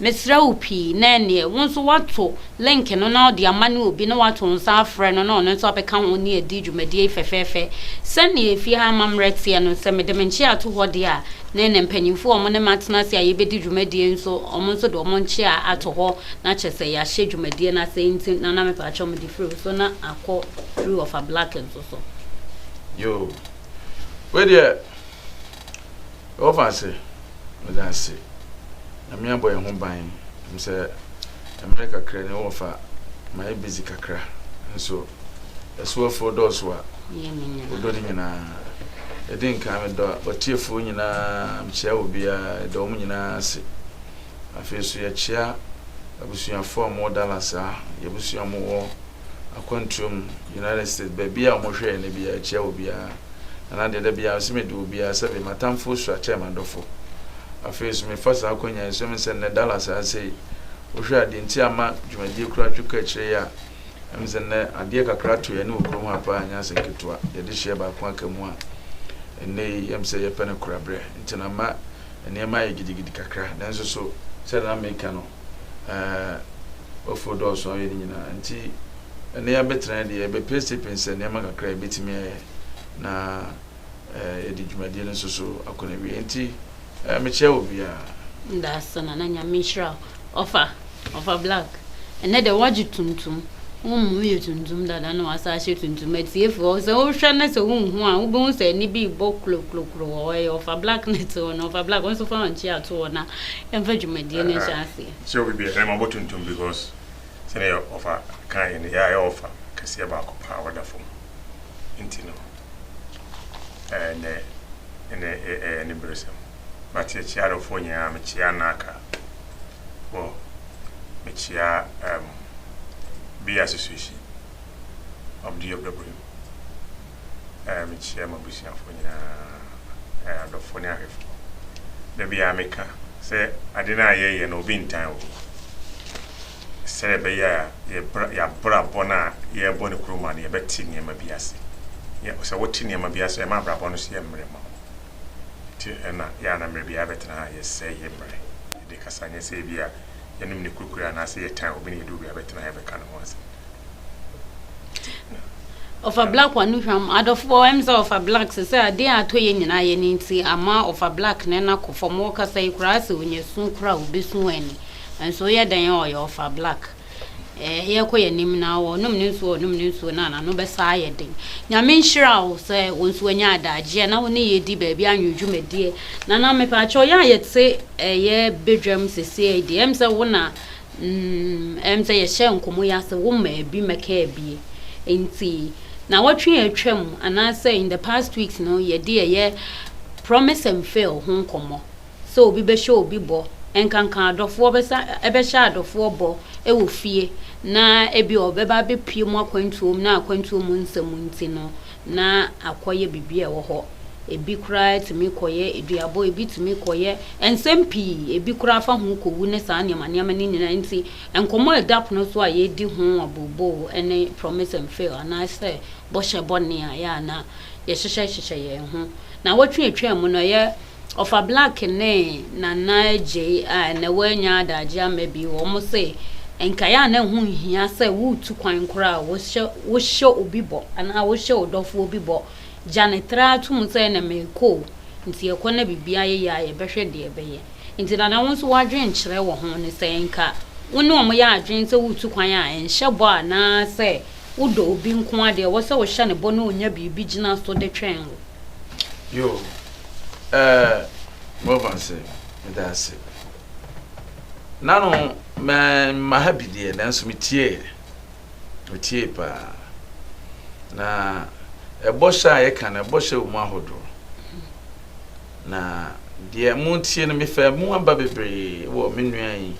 Mesrɛ wo pii na ɛnneɛ wo nso woato link no na wode ama ne obi na woato nsa afrɛ no na ɔno nso abɛka ho ne adi dwumadie yi fɛfɛɛfɛ. Sɛdeɛ efie ha amammerɛ teɛ no, sɛ mede me nkyea to hɔ deɛ a, na ɛnna mpanimfoɔ a wɔn ne me atena ase a yɛbɛdi dwumadie nso, wɔn nso de wɔn nkyea ato hɔ na kyerɛ sɛ yɛahyɛ dwumadie no ase. Enti Nana mepakyɛw mede firi wo so na akɔ firi Ɔfa Black nso so. Yoo. Wei deɛ. Ɔfa se, Meda ase. Nyame abɔ yɛn ho ban. Ɛnim sɛ mmerɛ kakra ni ɔfa mayɛ busy kakra. Nso asuafoɔ dɔɔso a ɔdɔ ne nyinaa. Ɛdi nkan medɔ watiefoɔ nyinaa mekyea obiara yɛda wɔn nyinaa ase. Afei nso yɛkyea abusuafoɔ a wɔwɔ Dallas a yɛabusua a wɔwɔ. akwantuom United States, baabi a wɔhwɛ yɛn no biara kyia obiara. Na na deɛ da biara nso mede obiara, sɛbe m'atamfoɔ sua kyɛn m'adɔfoɔ. Afei nso mefa saa akwannya yi so, ɛm sɛ nnɛ Dallas ayɛ sɛ yi. Wohwɛ a deɛ nti a ama dwumadie koraa twe kɔ akyire yi a, ɛm sɛ nnɛ adeɛ kakra ato yɛne wɔ kurom ha paa ɛnyɛ asɛm ketewa. Yɛde hyeɛ baako aka mu a, nnɛ yi ɛm sɛ yɛpɛ no korabrɛ. Nti na ama nneɛma ayɛ gidigidi kakra. Nanso so, sɛdeɛ na meka no, eh, Ofo dɔɔso ayɛ ne nyinaa nti ɛnɛ yɛabɛtena ha deɛ yɛbɛpɛnsepɛnsɛ nneɛma kakra a yɛbɛtumi ayɛ na eh, yɛde dwumadie no nso so akɔ no awie nti eh, mekyerɛ wɔ biara Ndasana na nyame nhyira wo. Ɔfa, ɔfa black. Ɛnɛ dɛ wagye tuntum. Wo mom yɛ tuntum dada na wasa ahyɛ tuntum. Atiefo hɔ sɛ wohwɛ na sɛ wonhu a wobɛhu sɛ ɛne bi bɔ klokloklo wɔ hɔ. Ɛyɛ ɔfa black na ɛte hɔ no. Ɔfa black wo nso fa wɔn kyi ato hɔ na Ɛmfa dwumadie no nhyɛ aseɛ. Sɛ obi bia ɛma ɔbɔ tuntum because sɛdeɛ ɔfa kaeɛ no yɛ a yɛ ɔfa kɛseɛ baako paa a ɔda fam nti no ɛɛ nɛ ɛnɛ ɛyɛ aniberesɛm but yɛ kyea adɔfoɔ nyinaa me kyea naaka wɔ me kyea ɛɛm bia sesuehyi ɔbde ɔbdabrim. a mekyia m'abusuafo nyinaa, adɔfo ne ahwɛfo. Da biara meka sɛ ade no a yɛyɛ no obi ntan wɔ mu. Sɛdeɛ ɛbɛyɛ a yɛabrabɔ no a yɛrebɔ no kuruwa no yɛbɛte nneɛma bi ase. Sɛ wote nneɛma bi ase a ɛma abrabɔ no so yɛ mmerɛ ma wo. Nti ɛna yɛ a na mmerɛ biara yɛbɛtena ha a yɛsɛe yɛ mmerɛ de kasa nyɛ sɛ ebia yɛnom ne kurukuruwa anaasɛ yɛtan obi na yɛduru baabi a yɛbɛtena ha yɛbɛka ne ho asɛm. ɔfa black wa no hwam adɔfoɔ ɛm sɛ ɔfa black sɛ sɛ adeɛ a atɔ yɛ nyinaa yɛ ne nti ama ɔfa black ne no akɔ fam ɔkasa yi koraa sɛ ɔnya su koraa ɔbɛsu ani nso yɛ dɛn a ɔyɛ ɔfa black eh, yɛkɔ yɛ anim na ɔnom ne nsuo ɔnom ne nsuo na anano bɛsaa yɛ den nyame nhyira wo sɛ wo nso anya adagyeɛ na wo ne yɛdi baabi anwene dwumadie na na mepaakyɛ ɔyɛ a yɛte ɛyɛ eh, badwam sesie deɛ ɛm sɛ wo na Umm msɛ yɛhyɛɛ nkɔmɔ yi ase wo maa bi mɛkaa bi nti nawɔtwe a atwa mu anaasɛ in the past weeks no yɛde ɛyɛ promise and fail ho nkɔmɔ sɛ obi bɛhyɛ obi bɔ nkanka adɔfoɔ bɛsa ɛbɛhyɛ adɔfoɔ bɔ ɛwɔ fie na ebi ɔbɛba abɛpie mu akwantuo mu na akwantuo mu nsɛm nti no na akɔyɛ biribi a ɛwɔ hɔ. Ebi koraa tumi kɔyɛ aduabɔ, ebi tumi kɔyɛ nsɛm pii, ebi koraa fa ho kɔwu ne saa nneɛma nneɛma no nyinaa nti, nkɔmmɔ a ɛda pono so a yɛredi ho abooboo ne promise and fail anaasɛ bɔhyɛ bɔne a ɛyɛ a na yɛhyehyɛ hyehyɛ yɛn ho. Nnawɔtwe a ɛtwaam no, ɛyɛ Ɔfa Black ne Nana Adjei a ɛnnɛ wɔanya adagye ama bio, wɔn se, Nkae a na ɛho nhia sɛ woretu kwan koraa a wohyɛ wohyɛ obi bɔ anaa wohyɛ wo dɔfoɔ bi bɔ, gya no tra to mu sɛ ɛnnɛ merekɔ o, nti yɛkɔ na biribiara yɛ yie a yɛbɛhwɛ deɛ ɛbɛyɛ. Nti Nana wo nso w'adwenkyerɛ wɔ ho ne sɛ nka wo ne wɔn yɛ adwene sɛ woretu kwan a nhyɛ bɔ anaa sɛ wodɔ obi nko ara deɛ ɛwɔ sɛ wohyɛ no bɔ na ɔnya biribi gyina so de twɛn wo. Yoo ɛɛ Morvan se meda ase. Nano mɛ mma ha bi deɛ nanso me tieɛ. Me tie paa. Na ɛbɔ hyɛ a yɛka no ɛbɔ hyɛ wɔ mu ahodoɔ. Na deɛ mo tie no mefɛ mo aba bebree wɔ me nua yi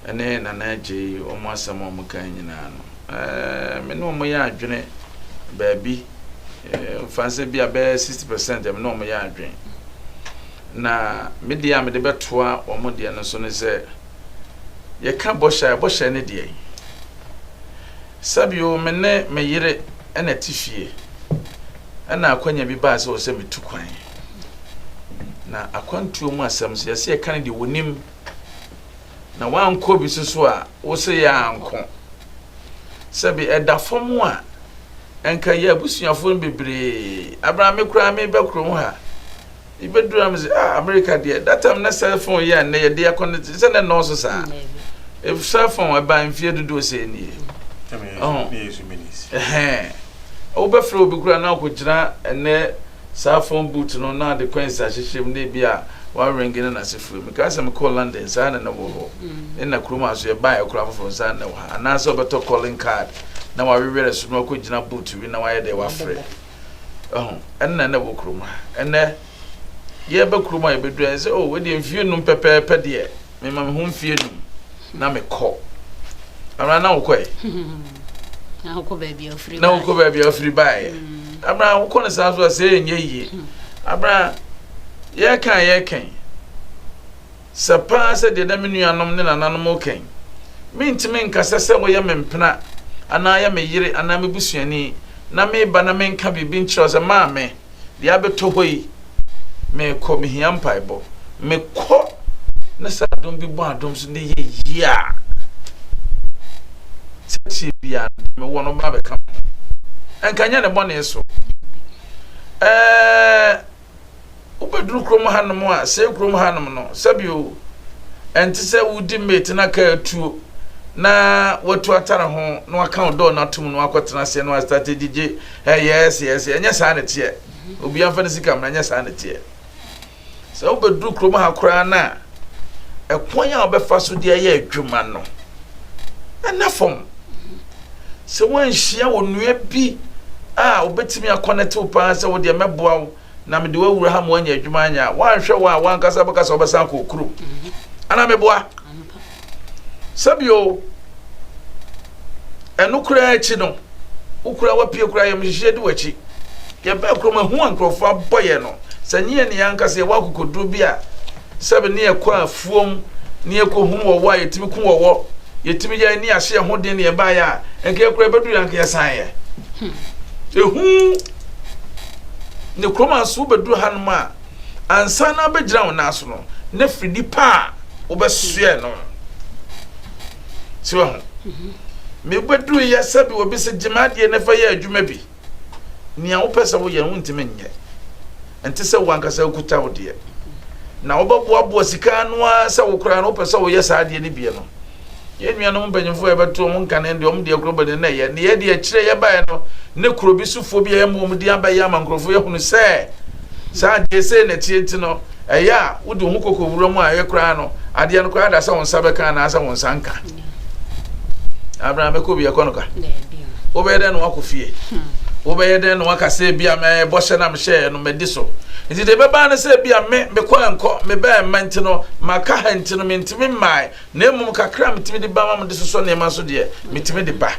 ɛne nana agye yi wɔn asɛm a wɔn kan nyinaa no. Ɛɛ me ne wɔn yɛ adwene baabi. Fa no sɛ ebia bɛyɛ sixty percent ɛme ne wɔn yɛ adwene, na me deɛ a mede bɛtoa wɔn deɛ no so ne sɛ, yɛka bɔhyɛ a, bɔhyɛ ne deɛ yi. Sɛbio me ne me yere ɛna ti fie, ɛna akwanya bi baa sɛ wɔ sɛ metu kwan. Na akwantuo mu asɛm so yɛsɛ yɛka ne deɛ wɔnim. Na wankɔ bi so so a wo se yɛ anko. Sɛ bi ɛda fam a nka yɛ abusuafo no bebree. Abra me koraa me ba kurom ha. Bi beduru am se ah America deɛ that time na cell phone yɛ ne yɛ de akɔ ne sɛ ne nɔɔso saa. If cell phone ɛba mfie dodoɔ sɛ nie. Oh. Eh. Wo bɛfrɛ obi koraa na ɔkɔ gyina ɛnɛ Saa phone booth no na ade coins ahyehyɛ mu na ebi a wɔaringe na n'ase fue. Mekae sɛ mekɔɔ London saa na na ɛwɔ hɔ. Nna kurom ha nso yɛbaeɛ koraa foforɔ no saa na ɛwɔ ha. Anaasɛ wobɛtɔ calling card na w'awewere ɛso na wakɔgyina booth bi na wayɛ dɛ wafrɛ. Wahu? Ɛnna na ɛwɔ kurom ha. Ɛnnɛ yɛreba kurom a yɛbɛduru a yɛsɛ oh wei deɛ mfie nnum pɛpɛɛpɛ deɛ. Mema me ho mfe anum na mekɔ. Amena na wokɔ ɛ. Na wokɔ baabi a ofiri bae. Na wokɔ baabi a ofiri bae. Mm. Amena wokɔ no saa so a sɛ ɛnyɛ yie. Hmm. Amena yɛka yɛkan. Sɛ paa sɛ deɛ na me nuanom ne nananom kan. Mentumi nkasa sɛ woyɛ me mpena anaa yɛ me yere anaa me busuani na meba na menka biribi nkyerɛ sɛ maame. deɛ abɛtɔ hɔ yi, mekɔ, mehia mpaebɔ. Mekɔ na sɛ adom bi bɔ adom so ne yɛ yie a, sɛdeɛ biara no deɛ mewɔ no bɛba bɛka me ho. Ɛnka nyɛ ne bɔne so. Ɛɛ wobɛduru kurom hanom a sɛ kurom hanom no sɛbio ɛnte sɛ wodi mate na kaa tuo na watu atare ho na waka ɔdɔɔ no atom no akɔtena aseɛ no astate gyigye Eh yes yes ɛnyɛ saa na ɛteɛ obiara mfa ne sika mmra ɛnyɛ saa na ɛteɛ sɛ wobɛduru kurom ha koraa no a ɛkwan a wɔbɛfa so de ayɛ adwuma no ɛna fam sɛ woanhyia wɔ nnua bi a wobɛtumi akɔnɛtew paa sɛ wodeɛ mɛboa wo Na mede wo awura ha ma woanya adwuma anyɛ a, woanhwɛ wo a, w'ankasa wobɛka sɛ wobɛsan akɔ wo kurom. Anaa meboa? Sɛ bio, ɛno koraa akyi no, wo koraa wapue koraa yɛm hyehyeɛ di w'akyi. Yɛbaa kurom a, hu a nkurɔfoɔ abɔ yɛn no, sɛ nyɛ yɛn ne yɛn ankasa yɛwɔ akokoduro bi a, sɛbe ne yɛkɔ afuom, ne yɛkɔhunu wɔwɔ a, yɛtumi ku wɔwɔ, yɛtumi yɛ ne yɛahyɛ yɛn ho den ne yɛbaeɛ a, nka yɛ koraa ɛbɛduru yɛ anka yɛsaneɛ. Ɛhu. Ne kurom a so wobɛduru hanom a, ansa na abɛgyina wo nan so no, na firi nipa a wobɛsoɛ no. Si wɔ ho. Mhm. Mebɛduru yɛ sɛ bi wɔ bi sɛ gyima adeɛ na fa yɛ adwuma bi. Nea wopɛ sɛ woyɛ no wontumi nyɛ. Ɛnte sɛ wo ankasa wokuta wo deɛ. Na wobɛboaboa sika no ara sɛ wo koraa no wopɛ sɛ woyɛ saa adeɛ no bie no. Yɛn nuanom mpanyimfo a yɛbɛto wɔn nkanen de wɔn deɛ korɔ bɛne na ɛyɛ nneyɛɛ de akyire yɛbaeɛ no ne kuro bi sofoɔ bi a yɛma wɔn din aba yi ama nkurɔfoɔ yɛhunu sɛ saa adeɛ sei na ɛteɛ nti no ɛyɛ a wode wo ho kɔkɔ wura mu a ɛyɛ koraa no adeɛ no koraa da sɛ wo nsa bɛka anaasɛ wo nsa nka abena mɛkɔ bi ɛkɔ no ka wobɛyɛ dɛn na wakɔ fie wobɛyɛ dɛn na waka sɛ bi a mɛbɔhyɛ na mehyɛɛ no madi so nti deɛ ɛbɛbaa no sɛ bi a me mekɔ ɛnkɔ mebɛɛ mma nti no maka ha nti no mentumi mmae na mmom kakra a metumi de ba ma mede sosɔ nneɛma so deɛ, metumi de ba.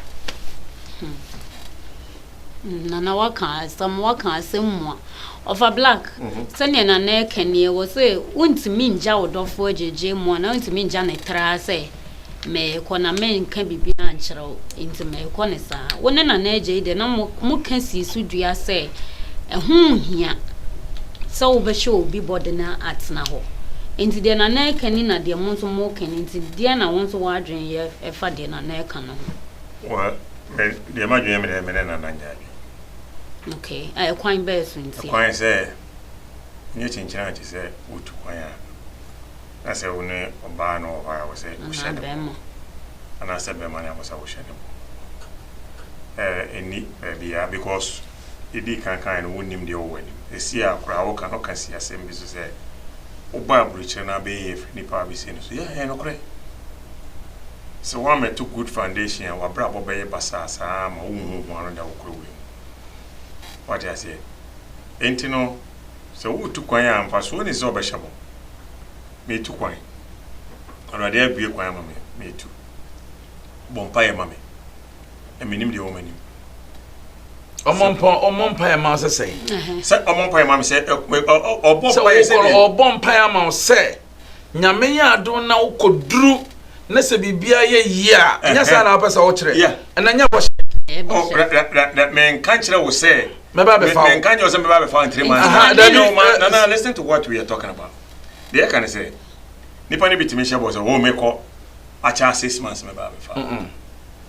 Hmm. Nana waka asɛm waka asɛm mu a ɔfa black mhm. sɛnea nana ɛka nie wɔ sɛ wontumi ngya wo dɔfoɔ gyegye mu a na wontumi ngya ne tra sɛ mɛkɔ na menka biribi ankyerɛ Enti ma ɛnkɔ no saa. Wo ne Nana Agya yi deɛ na moka sii so dua sɛ ɛho nhia sɛ wobɛhyɛ obi bɔ de no atena hɔ. Enti deɛ Nana reka ni na deɛ mo nso moreka ni. Enti deɛn na wo nso w'adwene yɛ ɛfa deɛ Nana reka no ho? Well, me deɛ m'adwene yɛ me dɛ me ne Nana nyɛ adwene. Okay, a ɛkwan bɛn so ntia? Ɛkwan sɛ, nyɛ kyenkyen ara te sɛ wotu kwan a. Na sɛ wo ne ɔbaa na ɔwɔ hɔ a, ɛwɔ sɛ wohyɛ ne bɔ. Anaasɛ bɛrima na ɛwɔ sɛ wohyɛ ne bɔ. Ɛɛ, ɛnni baabiara because yɛdii kan kaeɛ no, wonnim deɛ ɛwɔ w'anim. Ɛsi a koraa woka no, woka si asɛm bi so sɛ, wobaa aburokyire no abɛyɛ yei afiri nnipa a wɔbɛsie no so. Yeah, ɛyɛ nokorɛ. Sɛ woammɛto good foundation a, w'abrabɔ bɛyɛ basaa saa ara ma wonhu hua no da wo kura wei mu. Woate aseɛ? Enti no. Sɛ woretu kwan a, mfasoɔ nni sɛ wɔbɛhyɛ bɔ. Meretu kwan. Awurade abue kwan ama me. Meretu. Bɔ mpaeɛ ma me. Na menim deɛ ɛwɔ m'anim. Ɔmɔ mpa ɔmɔ mpa yɛ ma sɛ sɛ. Sɛ ɔmɔ mpa yɛ ma sɛ ɔbɔ mpa yɛ sɛ. Sɛ ɔbɔ mpa yɛ ma sɛ. Nyame yɛ adom na wokɔduru na sɛ biribiara yɛ yie a, nyɛ saa na wopɛ sɛ wokyerɛ? Ɛnna nyɛ bɔhyɛ. Oh, menka nkyerɛ wo sɛ mɛba bɛfa wo. Menka nkyerɛ wo sɛ mɛba bɛfa wo in three months. Aha, dabi. No, ma, na, na, listen to what we are talking about. Deɛ ɛka ne sɛ, nipa no bi tumi hyɛ bɔ sɛ, oh, mekɔ, akyɛ six months mɛba bɛfa wo.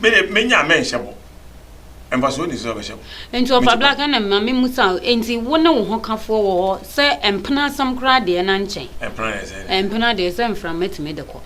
Me de, menya a mɛnhyɛ bɔ. Mfasoɔ nni so sɛ wobɛhyɛ bɔ. Nti ɔfa Mete black ɛna ma me musa o, nti wo ne wo hokafoɔ wɔ hɔ sɛ mpena asɛm koraa deɛ na nkyɛn. Mpena deɛ sɛ ne. Mpena deɛ sɛ mframa tumi de kɔ.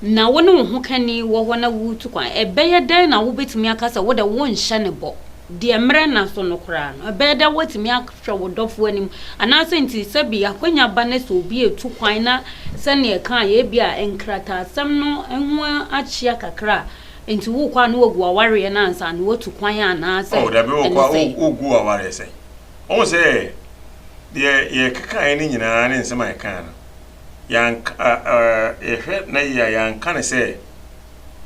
Na wo ne wo hokani wɔ hɔ na woretu kwan, ɛbɛyɛ dɛn na wobɛtumi aka sɛ wo de wonhyɛ ne bɔ? Deɛ mmerɛ nna so no koraa no, ɛbɛyɛ dɛn woatumi hwɛ wo dɔfo anim. Anaasɛ nti sɛ bi akwanya ba na sɛ obi retu kwan na sɛnea ɛkae ebia nkrataasɛm no ho akyea kakra a, nti wokɔ a na wagu w'awareɛ no ansa na watu kwan anaa sɛ Oh, dabi ɛne wokɔ a sɛn? wo- wogu w'awareɛ sɛn? Wohu sɛ deɛ yɛkekaeɛ no nyinaa ne nsɛm a yɛkaa no, yɛanka- ɛ- ɛ- yɛhwɛ na yie a, yɛanka no sɛ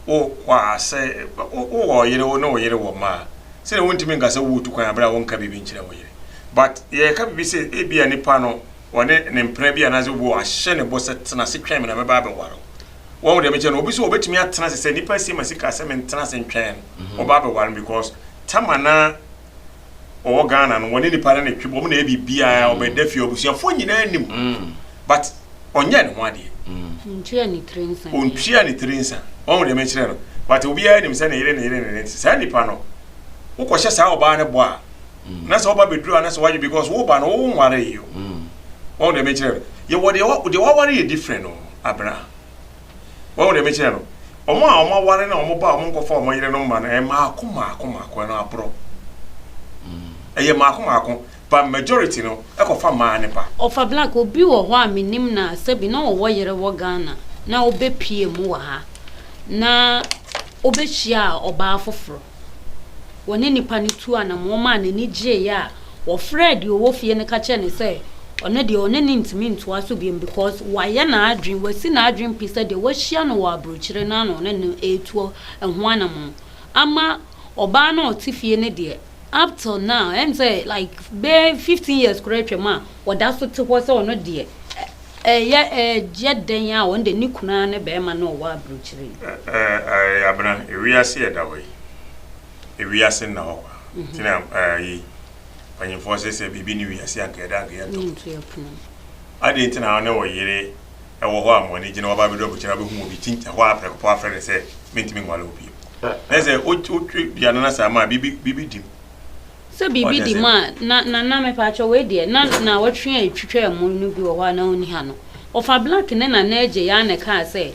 wowɔ asɛ, wowɔ ɔyere, wo ne wo yere wɔ mma a, sɛdeɛ wontumi nka sɛ woretu kwan berɛ a wonka biribi nkyerɛ wo yere. But yɛreka biribi sɛ ebi a nipa no ɔne ne mpena bi anaasɛ obi wahyɛ ne bɔ sɛ tena ase twɛn me na mɛba abɛware wo. Wahu deɛ mekyerɛ no? Obi so ɔbɛtumi atena ase sɛ nipa asie ma sika sɛ mentena ase ntwɛn no, ɔba abɛware me because Tamar na ɔwɔ Ghana no wɔne nipa no ne twe bɔ ɔmo na ɛyɛ biribiara mm. ɔbɛda fie abusuafoɔ nyinaa nim mm. but ɔnyɛ ne ho adeɛ ɔntua ne tiri nsa ɔntua ne tiri nsa ɔmo deɛ mekyerɛ no but obiara nim sɛ ne yere ne yere ne nti saa nipa no wokɔhyɛ saa ɔbaa no bɔ a mm. na sɛ woba bɛduru a na sɛ woadwe because woba no wo nware yo ɔmo deɛ mekyerɛ no yɛwɔ deɛ waware yɛ different no abena Wahu deɛ mekyerɛ no? Wɔn a wɔaware na wɔn ba a wɔnkɔfa wɔn yerenom mma no, ɛyɛ mmaako mmaako mmaako, ɛno aborɔ. Ɛyɛ mmaako mmaako, but majority no kɔfa mmaa no ba. Ɔfa Black, obi wɔ hɔ a menim no a sɛbi na ɔwɔ yere wɔ Ghana na ɔbɛpuee mu wɔ ha na ɔbɛhyiaa ɔbaa foforɔ. wɔne nnipa no tuu anammɔn maa n'ani gyeeɛ a, wɔfrɛɛ deɛ ɔwɔ fie no ka kyerɛɛ no sɛ ɔno deɛ ɔne no ntumi ntoa so bio because wayɛ n'adwene, wasi n'adwene pi sɛ deɛ wahyia no wɔ aburokyire no ara na ɔne no retu ɛho anammɔn. Ama ɔbaa no a ɔte fie no deɛ, up till now, ɛne sɛ like bɛyɛ fifteen years koraa atwam a, ɔda so te hɔ sɛ ɔno deɛ Ɛyɛ ɛyɛ dɛn a wɔn de ne kunu ara ne barima na ɔwɔ aburokyire yi. Ɛ ɛ ɛyɛ abena ewiase yɛda hɔ yi ewiase nna hɔ kwa nti na ɛ yi mpanyinfoɔ se sɛ biribi ne wiase anka yɛda anka yɛnto Yɛnto yɛ pono. Adɛn nti na wo ne wo yere wɔ hɔ a mo ani gye na waba abɛdu aburokyire abɛhu mu bi kyin ɛhɔ ara prɛko pɛ wafrɛ no sɛ mentumi nware wo bio na sɛ wotwe dua no na saa ma biribi biribi di mu. Sɛ biribi di mu a, na, na, na mepaakyɛw, wei deɛ, na naawɔtwe a etwitwaa mu no bi wɔ hɔ a na onni ha no. Ɔfa Black ne Nana Adjei ara na ɛkaa sɛ,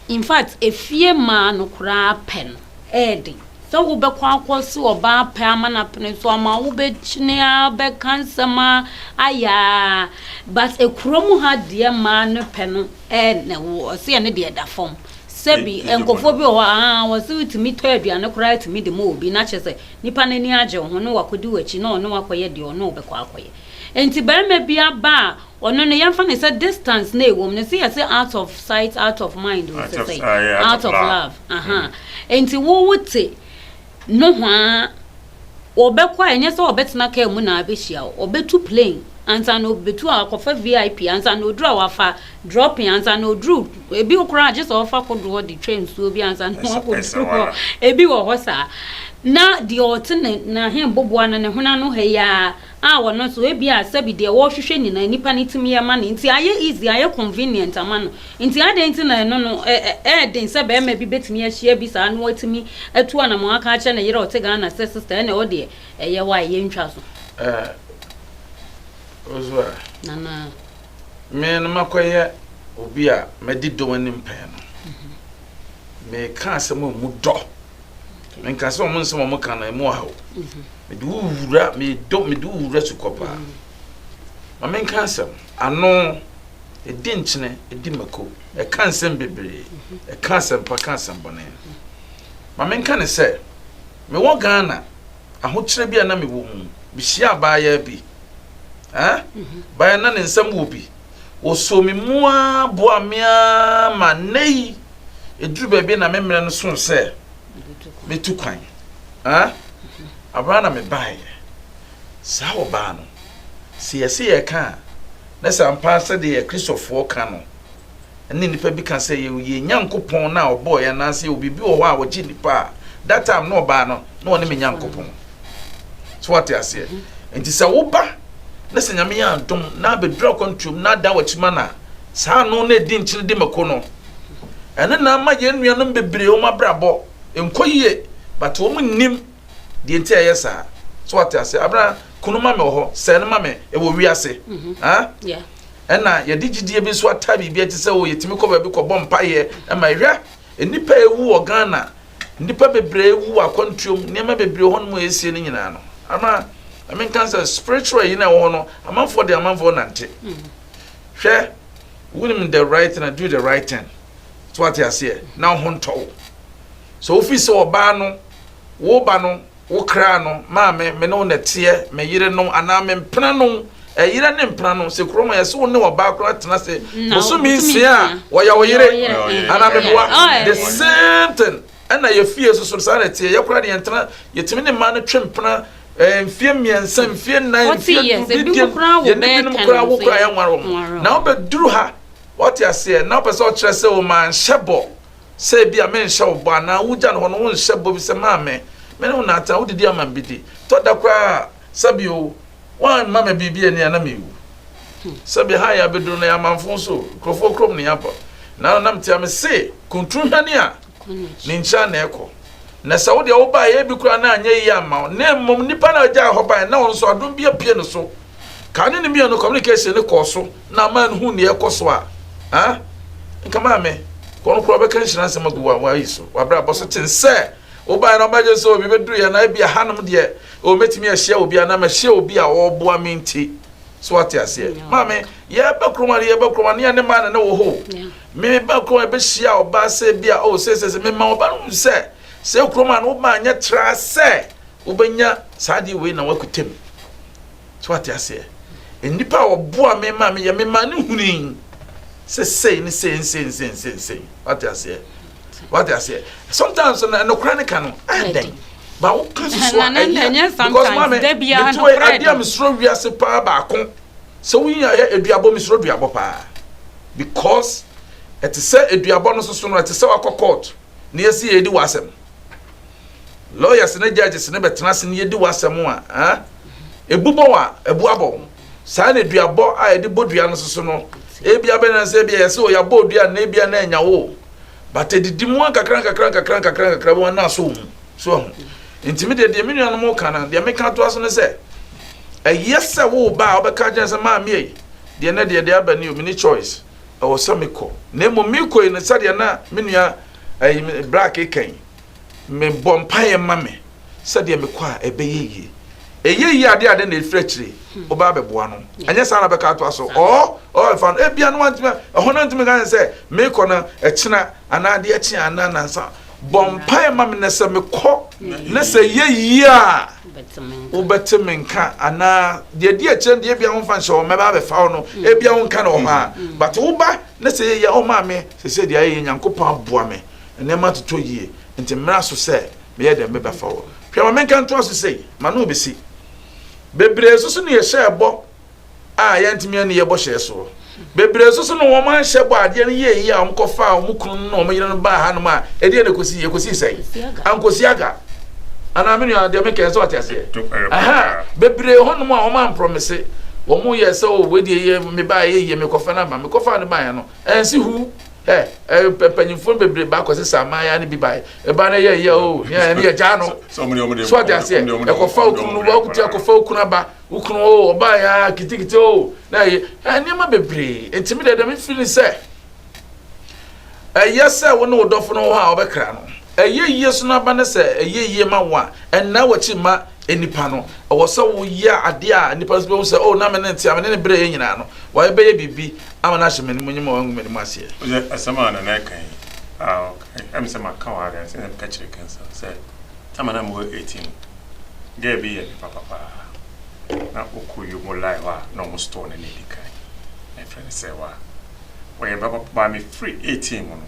in fact, efie mmaa no koraa pɛ no yɛ den. Sɛ wobɛkɔ akɔse ɔbaa pɛ ama no apene so ama wobɛkyini ara, bɛka nsɛm ara, ayɛ ara, but kurom ha deɛ mmaa no pɛ no yɛ na wo, ɔse ɛno deɛ ɛda fam. Sɛbi, nkurɔfoɔ bi wɔ hɔ a, ahaa, ɔse wotumi tɔ aduane koraa tumi de ma obi, na kyerɛ sɛ, Nnipa no ani agye wo ho na wɔakɔdi w'akyi na wɔne wo akɔyɛ deɛ wɔne wo bɛkɔ akɔyɛ. Enti barima bi aba a, ɔno no yɛmfa no sɛ distance na ɛwɔ mu no, sɛ yɛse out of sight, out of mind o, te sɛ out of love. Ahaa. Enti wo wote nohoa, wɔbɛkɔ a, ɛnyɛ sɛ wɔbɛtena kaa mu na abɛhyia wo. Wɔbɛtu plane ansa na wɔbɛtu a, wɔakɔfa VIP ansa na wɔduru a wɔafa Dropping ansa na oduru ebi koraa gye sɛ ɔfa kodoɔ de twa nsuo bi ansa na wakɔduru hɔ ebi wɔ hɔ saa na deɛ ɔte ne n'ahemboboa no ne hwene ano ha yi ara a ɔno nso ebi a sɛbi deɛ wɔrehwehwɛ nyinaa nipa no tumi yɛ ma no nti ayɛ easy ayɛ convenient ama no nti adɛn nti na ɛno no ɛɛden sɛ bɛrima bi bɛtumi ahyia bi saa na watumi atu anamɔ aka akyerɛ ne yere ɔte Ghana sɛ sister ɛna ɛwɔ deɛ ɛyɛ wa a yɛntwa so. Ah, Ozua. Nana. me no makɔyɛ obi a madi dɔ anim pɛn no meka asɛm a mu dɔ menka sɛ ɔmo nsɛm ɔmo ka no ɛmu ahaw mede wo wura medɔ mede wo wura sukɔ paa ma menka asɛm ano ɛdi nkyene ɛdi mako ɛka nsɛm bebree ɛka asɛmpa ka asɛm bɔne ma menka ne sɛ mewɔ ghana Ahokyerɛ bi a na mewɔ mu, mehyiaa abaayaa bi. Ɛɛ, abaayaa na ne nsam wɔ bi. Wɔsoo me mu ara boa me ara ma nnɛ yi, ɛduru baabi na me mmerɛ no so sɛ metu kwan. Ɛɛ, abaa na mebaeɛ. Saa ɔbaa no, sɛ yɛse yɛreka a, na sɛ ampa ara sɛdeɛ Kristofoɔ ka no, Ɛnna nnipa bi ka sɛ, Yɛ yɛn Nyankopɔn no a ɔbɔɔ yɛn anaasɛ yɛwɔ biribi wɔ hɔ a ɔgye nnipa a, that time na ɔbaa no, na ɔne me Nyankopɔn. So wate aseɛ? Nti sɛ woba na sɛ Nyame yɛ adom na abɛduru akwantuom na ada w'akyi ma no a, saa ano na ɛdi nkyene di mako no. Ɛno na ama yɛn nuanom bebree wɔn abrabɔ nkɔ yie, but wɔn nnim deɛ nti a ɛyɛ saa. So wate aseɛ? Abena, kunu ma me wɔ hɔ, sɛɛ no ma me, ɛwɔ wiase. Mm-hmm. Ah? Yeah. Ɛna yɛde gyidie bi nso ata biribi ati sɛ o yɛtumi kɔ baabi kɔbɔ mpaeɛ ma ɛhwɛ nnipa a ɛwu wɔ Ghana nnipa bebree wu wɔ akwantuom nneɛma bebree hɔ no mu ɛsie no nyinaa no ama menka sɛ spiritual yi na ɛwɔ hɔ no amanfoɔ de amanfoɔ nante hwɛ wonim the right thing do the right thing so ate aseɛ na ho ntɔ wo so wofi sɛ ɔbaa no wo ba no Wo kra no, maame, me ne wo na ɛteɛ, me yere no, anaa me mpena no, ɛyere ne mpena no, sɛ kuro mu a, ɛsɛ wo ne ɔbaa koro atena ase bosome nsia a, wɔyɛ wo yere, anaa meboa, the same thing, ɛna yɛ fie nso so, saa na ɛteɛ, yɛ koraa deɛ yɛntena, yɛtumi ne mmaa no twe mpena, eh, mfie mmiɛnsa, mfie nnan, mfie du, bi deɛ, yɛne binom koraa wo koraa yɛnware wɔn, na wobɛduru ha, wɔte aseɛ, na wopɛ sɛ ɔkyerɛ sɛ o, manhyɛ bɔ, Sɛ ebia menhyɛ wo bɔ anaa wugya no hɔ no, wonhyɛ bɔ bi sɛ, Maame, me ne wo na atena, wodidi ama me bi di. Tɔ da koraa a, sɛbe oo, woamma me biribi anni a na mewu. Sɛbe ha a yɛabedu no, yɛ amamfõ so oo, nkurɔfoɔ kurom ne yɛabɔ. Naano na metea me se, Kuntun hwane a, ne nkyira na ɛkɔ. Na sɛ wo deɛ wobaeɛ a, ebi koraa na anyɛ yie amma wo. Na mmom nnipa no a ɔgyaa hɔ baeɛ na ɔno nso, adom bi apue ne so. Kane ne mianu communication ne kɔɔ so na ama no hu nea ɛkɔ so a ah nka maame kɔn kora ɔbɛka nhyira nsɛm agu wa wa yi so wabra bɔ so ten sɛ wobae na ɔbɛgye sɛ obi bɛduru yɛ na ebi ahanom deɛ ɔmɛtumi ahyia obi anaa mahyia obi a ɔreboa me nti so ate aseɛ maame yɛbɛ kuroma no yɛbɛ kuroma ne ɛne maa ne ne wɔ hɔ me ba kuroma yɛbɛhyia ɔbaa sɛ bi a ɔsɛ sɛ sɛ mema ɔba no sɛ Sɛ kurom a na woma anyɛ traa sɛ wobɛnya saa adeɛ wei na woakuta mu. So ate aseɛ? Nnipa a wɔboa me ma meyɛ me ma ne huni sɛ sei ne sei nsei nsei nsei nsei. Wate aseɛ? Wate aseɛ? Sometimes na nokora ne ka no ayɛ dɛn. Ba wo ka susu a ɛyɛ because maame metu adeɛ a mesoro wiase paa baako sɛ woyi ayɛ aduabɔ mesoro aduabɔ paa because ɛte sɛ aduabɔ no soso no ɛte sɛ wakɔ court. na yɛsi yɛdi w'asɛm lawyers ne judges ne bɛtena ase na yɛdi w'asɛm a eh? ebu bɔ wa ebu abɔ saa na dua bɔ a yɛde bɔ dua no soso no ebi abɛnɛ sɛ ebi yɛsɛ o yɛabɔ dua na ebi na anya wo but edidi mu nkakra nkakra nkakra nkakra nkakra bi wɔn na aso mu so ɛho ntumi deɛ deɛ me nuanom ka no deɛ meka to aso no sɛ ɛyɛ sɛ wo ba a wɔbɛka gyɛn sɛ maame yi deɛ ne deɛ deɛ aba ne o mini choice ɛwɔ sɛ mekɔ na mmom mekɔ yi no sɛdeɛ na me nua ɛyi eh, black eka yi mebɔ mpaeɛ ma me sɛdeɛ mekɔ a ɛbɛyɛ yie ɛyɛ yie adeɛ adeɛ na ɛfiri akyire wobɛ abɛboa no ɛnyɛ saa na bɛka atoa so ɔ ɔfa no ebia no wantumi ɛhɔ no ntumi ka sɛ mekɔ no ɛkyena anaa adeɛ kyea anaa nansa Bɔ mpae ma me na sɛ mekɔ na sɛ ɛyɛ yie a wobɛte me nka anaa deɛ di akyire deɛ ebia womfa nhyɛ hɔ mɛba abɛfa wo no ebia wo nka no wɔ hɔ a but woba na sɛ ɛyɛ yie a woma me sɛ sɛ deɛ ayɛ yɛ nyankopɔn aboa me nneɛma atotɔ yie nti mmra so sɛ meyɛ dɛn mebɛfa wɔ hwɛ ma menka ntoa so sei ma no bɛsi bebree so so ne yɛhyɛ ɛbɔ a yɛantumi anni yɛn bɔhyɛ so. Bebree nso so no wɔn anhyɛ bɔ adeɛ no yie yie a wɔn kɔfaa wɔn kunu no wɔn yere no baa hanom a ɛdeɛ na ɛkɔsi ɛkɔsi sɛn ankɔsi aga anaa me nua deɛ mekɛn sɛ ɔte aseɛ aha bebree hɔnom a wɔn amprɔmese wɔn yɛ sɛ o wɔdeɛ yɛ mebaa yɛ yie mekɔfa no aba mekɔfa no baeɛ no ɛnsi hu ɛ mpanyinfoɔ bebree ba akɔsi saa aman yɛ ne bi baeɛ ɛba no yɛ yɛ o ne yɛ gyaa no so ɔte aseɛ ɛkɔfa okunu no wɔkuti akɔfa okunu aba Wo kunu o, ɔbaeɛ ara kitikiti o, na ɛyɛ eh, nneɛma bebree. Enti me deɛ deɛ mefi ne sɛ, ɛyɛ sɛ wo ne wo dɔfo no wɔ hɔ a wɔbɛkra no. Ɛyɛ yie so no aba ne sɛ ɛyɛ yie ma wo a, ɛnna w'akyi mma nnipa no. Ɛwɔ sɛ woyɛ adeɛ a nnipa nso bɛhu sɛ, o, na me ne no te a, me ne no berɛeɛ nyinaa no, wayɛ bɛyɛ biribi ama no ahyɛ m'anim nyim a wangu m'anim aseɛ. Wodeɛ asɛm a Nana ɛka yi, Nna mepɛ sɛ makã wo ara dɛn, na mekã kyerɛɛ Kensal sɛ, Tam a nna mowɔ eighteen no, girl bi yɛɛ me papa paa. Nna ɔkɔ Yom wɔ Lae hɔ a nna wɔn store no na edi kan. Na yɛfrɛ no Sɛɛwaa. Ɔyɛ me papa paa. Mefiri eighteen mu no,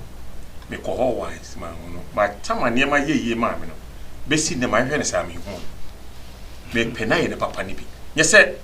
mekɔ hɔ once, manhu no. But Tam a nneɛma yɛɛ yie maa me no, besi nnɛ mahwehwɛ no saa, menhu no. Mepɛ no ayɛ ne papa no bi. Nyɛ sɛ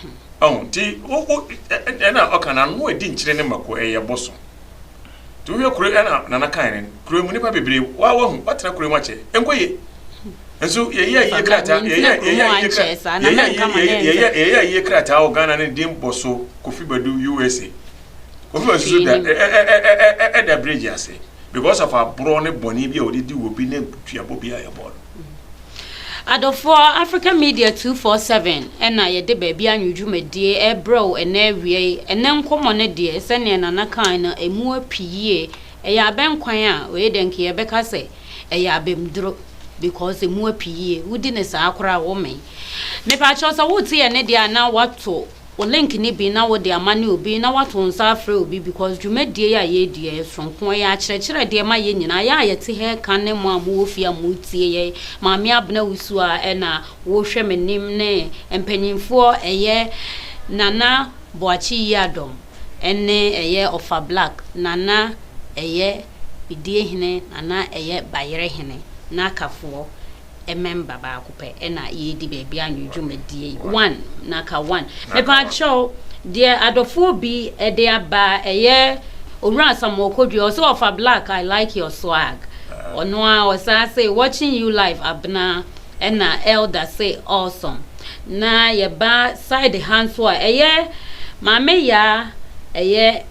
Hmm. Ɔn, nti wo wo ɛna ɔka na ano adi nkyerɛ ne mako ɛyɛ boso. Nti wohwɛ kuro ɛna nana kan ne kuro mu nipa bebree wa wahu watena kuro mu akyɛ ɛnkɔ yie. Nso yɛyɛ ayie krataa yɛyɛ yɛyɛ ayie krataa yɛyɛ ayie yɛyɛ yɛyɛ ayie krataa wɔ Ghana ne din boso Kofi Badu USA. Kofi Badu so da ɛda bridge ase. because of aborɔ ne bɔne bi a wɔde di obi ne duabɔ bi a yɛbɔ no. Adɔfoɔ, Africa Media 247 na yɛde Baabi Anwo dwumadie rebrɛ wo ɛnnɛ awia yi. Ɛnnɛ nkɔmmɔ no deɛ, sɛdeɛ Nana kae no, ɛmu api yie. Ɛyɛ abɛnkwan a, wei deɛ nka yɛbɛka sɛ ɛyɛ abamduro because ɛmu api yie. Wodi no saa koraa a, womee. Mepa kyɛw sɛ wote yɛn nne deɛ a na woato Wo link ne bi na wo de ama ne obi na wato nsa afrɛ obi because dwumadie yi a yɛredi yɛ soronko ɛyɛ akyerɛkyerɛ deɛ ma yɛn nyinaa yɛ a yɛte ha ɛka ne mo a mo wɔ fie a mo retie yɛn maame abena wusu a ɛna wo hwɛ me nim ne mpanyinfoɔ ɛyɛ nana boakye yiadɔm ɛne ɛyɛ ɔfa black nana ɛyɛ bidie hene nana ɛyɛ bayerɛ hene na akafoɔ mmɛmba baako pɛ na yɛredi baabi anwɔ dwumadie yi one na ka one mepaakyɛw deɛ adɔfoɔ bi ɛde aba ɛyɛ owura asamoah kodua ɔsɛ ɔfa black i like your swag ɔno a ɔsaa sɛ watching you live abena ɛna elder sɛ awesome na yɛba side ha nso a ɛyɛ maame yaa ɛyɛ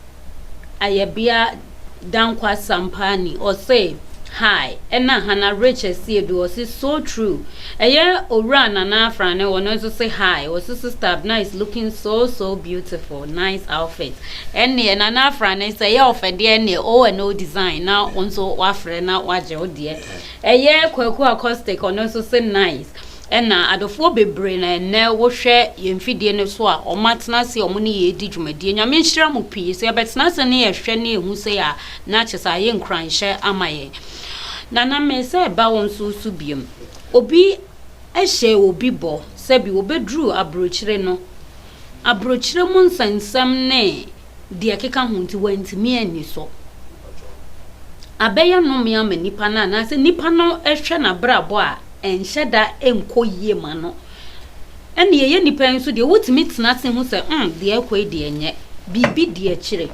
ayɛbea Dankwa Sampaani, ɔse, Hi, ɛna Hannah Rich Asiedu, ɔse, So true. Ɛyɛ Owura Nana Afrane, ɔno nso se, Hi, ɔse, Sister Abena is looking so, so beautiful, nice outfit. Ɛneɛ, Nana Afrane, sɛ ɛyɛ ɔfɛ deɛ ɛneɛ, O and O Design na wo nso woafrɛ na woagye wo deɛ. Ɛyɛ Kwaku Acoustic, ɔno nso se, Nice. Ɛna adefoɔ bebree na ɛnnɛ wohwɛ yɛn mfidie no so a wɔn atena ase a wɔn ne yɛn redi dwumadie. Nyame nhyira mo pii. Sɛ yɛbɛtena ase ne yɛhwɛ ne yɛhu sei a, na kyerɛ sɛ ayɛ nkuranhyɛ ama yɛn. Nana me sɛ ba wo nso so biom. Obi hyɛ obi bɔ sɛ bi wɔbɛduru abrokyire no, abrokyire mu nsɛnsɛm ne. deɛ ɛkeka ho nti wantumi anni so. Abɛyɛ nnome ama nipa no anaasɛ nipa no hwɛ n'abrabɔ a ɛnhyɛ da nkɔ yie ma no. Ɛne ɛyɛ nipa nso deɛ wotumi tena ase ho sɛ mm deɛ ɛkɔ yi deɛ nyɛ biribi di akyire.